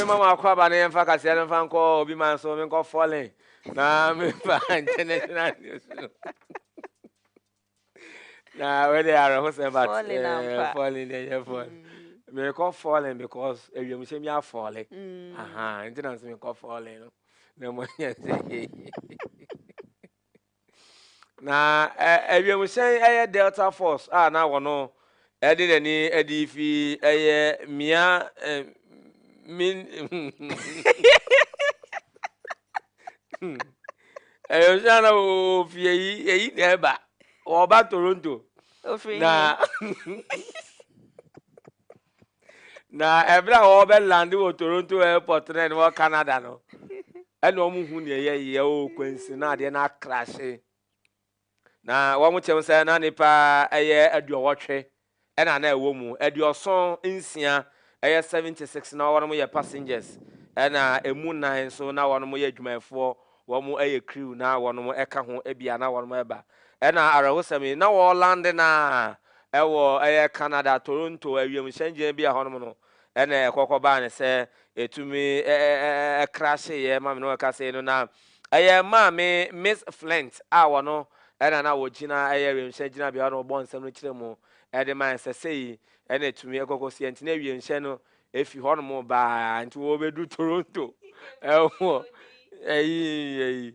mema mo akɔaba no yɛmfa kaseɛ no mfa nkɔ obi man so menkɔ fɔlen na memfa international news no na wei de awerɛhosɛm but Falling eh, ampa. falling deɛ ɛnyɛ fall mekɔ falling because awiemhyɛ mi afɔle aha nti na nso mekɔ falling no na mmɔ nyɛ sɛ na eh, awiemhyɛn ɛyɛ delta force a na wɔno Ɛde n'ani adi fi ɛyɛ mia eh, min. Ɛyɛ nso na ofi eyi eyi na ɛba ɔba Toronto. Ofiri na na ɛbɛrɛ a wɔbɛ land wɔ Toronto airport na ɛna wɔ Canada no ɛna wɔn hu nea ɛyɛ yɛ o kwansi na adeɛ na akrahye. Na wɔn kyɛm sɛ na nnipa ɛyɛ aduɔwɔtwe ɛna na ɛwɔ mu, aduɔson nsia ɛyɛ 76 na wɔnom yɛ passengers ɛna ɛmu nnan nso na wɔnom yɛ adwumayɛfoɔ, wɔn ɛyɛ crew na wɔnom ɛka ho bia na wɔnom ɛba. Ɛna awerɛhosɛm yi, na wɔlande no ara ɛwɔ ɛyɛ Canada, Toronto awiemhyɛngyinabea hɔnom no, Ɛnna ɛkɔkɔ baa no sɛ etumi krahyeeɛ ma me ne ɔkasɛe no, na ɛyɛ Maame Miss Flint a ɔno na na ɔgyina ɛyɛ wiemhyɛn gyinabea hɔ na ɔbɔ nsɛm no kyerɛ mu de mae sɛ sei na etumi ɛkɔkɔ si ɛnti na wiemhyɛn no efi hɔnom baa nti wɔbɛdu Toronto ɛwɔ ɛyi ɛyi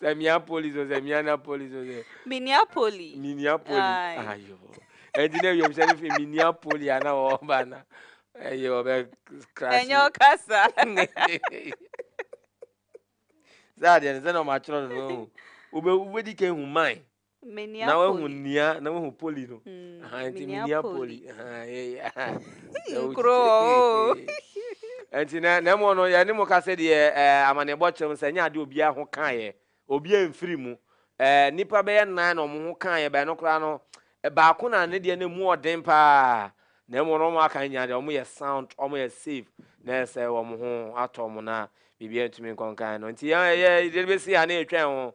Sɛ mia polis o, sɛ mia na polis o, sɛ. Minia poli. Minia poli. Ayo. Ɛnti na ewiem sɛ ne fi minia poli a na ɔba na ɛyɛ ɔbɛ krasi. Ɛnyɛ ɔkasa. Sɛ adeɛ no sɛ na ɔmo atwerɛ no no ehu. Wobɛ wobɛdi ka ehu man. na wahu nua na wahu poli no nti menua poli nti na na mmom no yɛne mo ka sɛ deɛ amanneɛbɔ kyerɛ no sɛ ɛnyɛ adeɛ obiara ho kaeɛ obiara mfiri mu nnipa bɛyɛ nan na wɔn ho kaeɛ bɛyɛ no koraa no baako na ne deɛ no mu ɔden paa na mmom no wɔn aka nyinaa deɛ wɔn yɛ sound wɔn yɛ safe na ɛsɛ wɔn ho atɔ wɔn na biribiara ntumi nkɔnkan no nti yɛn yɛ yɛde bɛsi ha na yɛtwɛn ho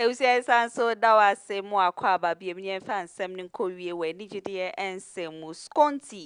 Abusua yi san so da wo ase mo akwaaba biom yɛn fa nsɛm no nkɔ wie wɔ anigyedeɛ nsɛm mu Skonti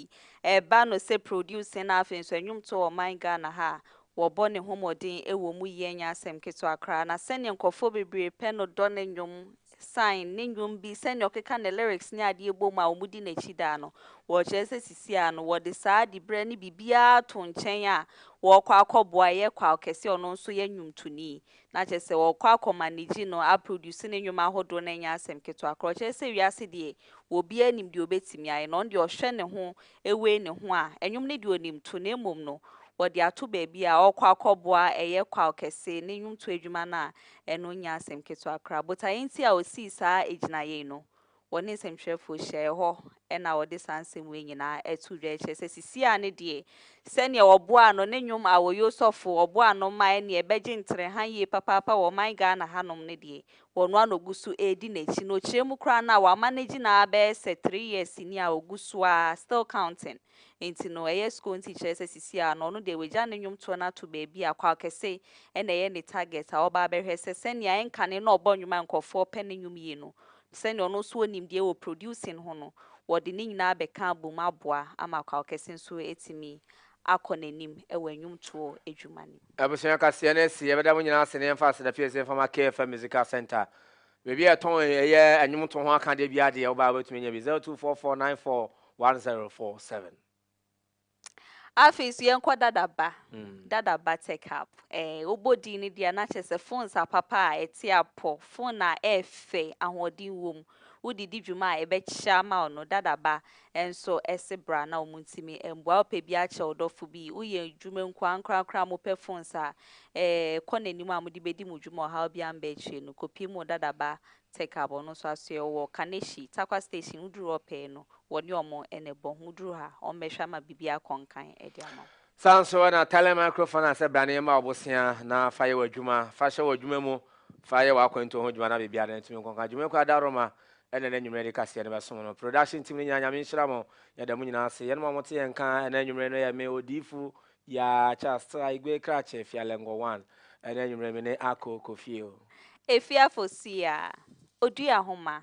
ɛba no sɛ producing na afei nso ɛnwomtoɔ ɔman Ghana ha a wɔbɔ ne ho mmɔden ɛwɔ mu yɛ nyɛ asɛm ketewa koraa na sɛdeɛ nkorɔfoɔ bebree pɛ no dɔ ne nnwom sign ne nnwom bi sɛnea ɔkeka ne lyrics ne adeɛ bom a wɔdi n'akyi daa no, wɔrekyerɛ sɛ sisiaa no wɔde saa dibrɛ ne biribiara to nkyɛn a wɔrekɔ akɔboa ɛyɛ kwaw kɛse a ɔno nso yɛ nnwomtoni na kyerɛ sɛ wɔrekɔ akɔ manage no a produce ne nnwom ahodoɔ no ɛnyɛ asɛm ketewa koraa ɔkyerɛ sɛ wiase deɛ obiara nim deɛ ɔbɛtumi ayɛ na ɔno deɛ ɔhwɛ ne ho awei ne ho a, nnwom no deɛ ɔnim to, na mmom no, wɔde ato baabi a ɔrekɔ akɔboa ɛyɛ kwaw kɛse ne nnwomtoɔ adwuma no a, ɛno nyɛ asɛm ketewa koraa. Botaeɛ nti a ɔsii saa agyinaeɛ yi no, wɔne nsɛmtwerɛfoɔ hyiaeɛ hɔ na ɔde saa nsɛm wei nyinaa too dwa. Ɛkyerɛ sɛ sisi a ne deɛ, sɛdeɛ wɔboaa no ne nnwom Awoye Osɔfo, wɔboaa no ma ɛnneɛ bɛgye ntrɛha yie papaapa wɔ ɔman Ghana hanom no deɛ, wɔ noa na ogu so redi n'akyi na okyerɛ mu koraa no a wama no agyi na abɛyɛ sɛ three years ni a ogu so ara still counting nti no ɛyɛ score nti kyerɛ sɛ sisi a no ɔno deɛ wagya ne nnwom toɔ no ato baabi a kwaw kɛse ɛna ɛyɛ ne target a ɔba abɛhwɛ sɛ sɛnea ɛnkane na ɔbɔ nnwom a nkurɔfoɔ pɛ ne nnwom yie no sɛnea ɔno nso wɔ nimdeɛ wɔ producing ho no wɔde ne nyinaa abɛka abom aboa ama kwaw kɛse nso atumi akɔ n'anim wɔ nnwomtoɔ adwuma no mu. Abusua kaseɛ no asi, yɛbɛda mo nyinaa ase na yɛmfa aseda firi ase mfa ma KFM Musical Centre. Baabi a yɛtɔn ɛyɛ nnwomtoɔ ho akadeɛ biara deɛ wobaa wobɛtumi anya bi, 0244941047. Afei nso yɛnkɔ Dada Ba, Dada Ba Tech Hub. Ɛɛ, wobɔ din no deɛ a na kyerɛ sɛ phones apapa a ɛte apɔ, phone a ɛyɛ fɛ, ahoɔden wom, wode di dwuma a ɛbɛkyerɛ ama wo no, Dada Ba Nso ese bra na omo ntimi mbua wo pɛ bia kyɛ wo dɔfo bi wo yɛ dwuma nko ankorankora a mo pɛ phones a ee kɔ nanim a mode bedi mo dwuma ɔhaw bia mba akyire no kɔ pii mo dada ba tech abo no nso asoɛ wo wɔ kanehyi takwa station wo duru hɔ pɛɛ no wɔ ne omo na ɛbɔ ho wo duru ha omo bɛhwɛ ama biribi akɔ nkan de ama wo. Saa ara nso na Thailand Microphone a sɛ brane mma wo bosea na fa yɛ w'adwuma, fa hyɛ w'adwuma mu, fa yɛ w'akwantuo ho dwuma na biribiara da no tumi nkonka. Dwumakuo a da Roma ɛnɛ na anwumerɛ de kaseɛ no bɛsom no. Production team no nyinaa Nyame nhyira mo. Yɛda mo nyinaa ase. Yɛnom a mote yɛn nka ɛnɛ anwumerɛ no yɛ me, Odiyifo Yaa Charles Tra Igwe Krache Fialengor One. Ɛnɛ anwumerɛ me ne Ako kɔ fie o. Efiafo Siaa, Odua Homa,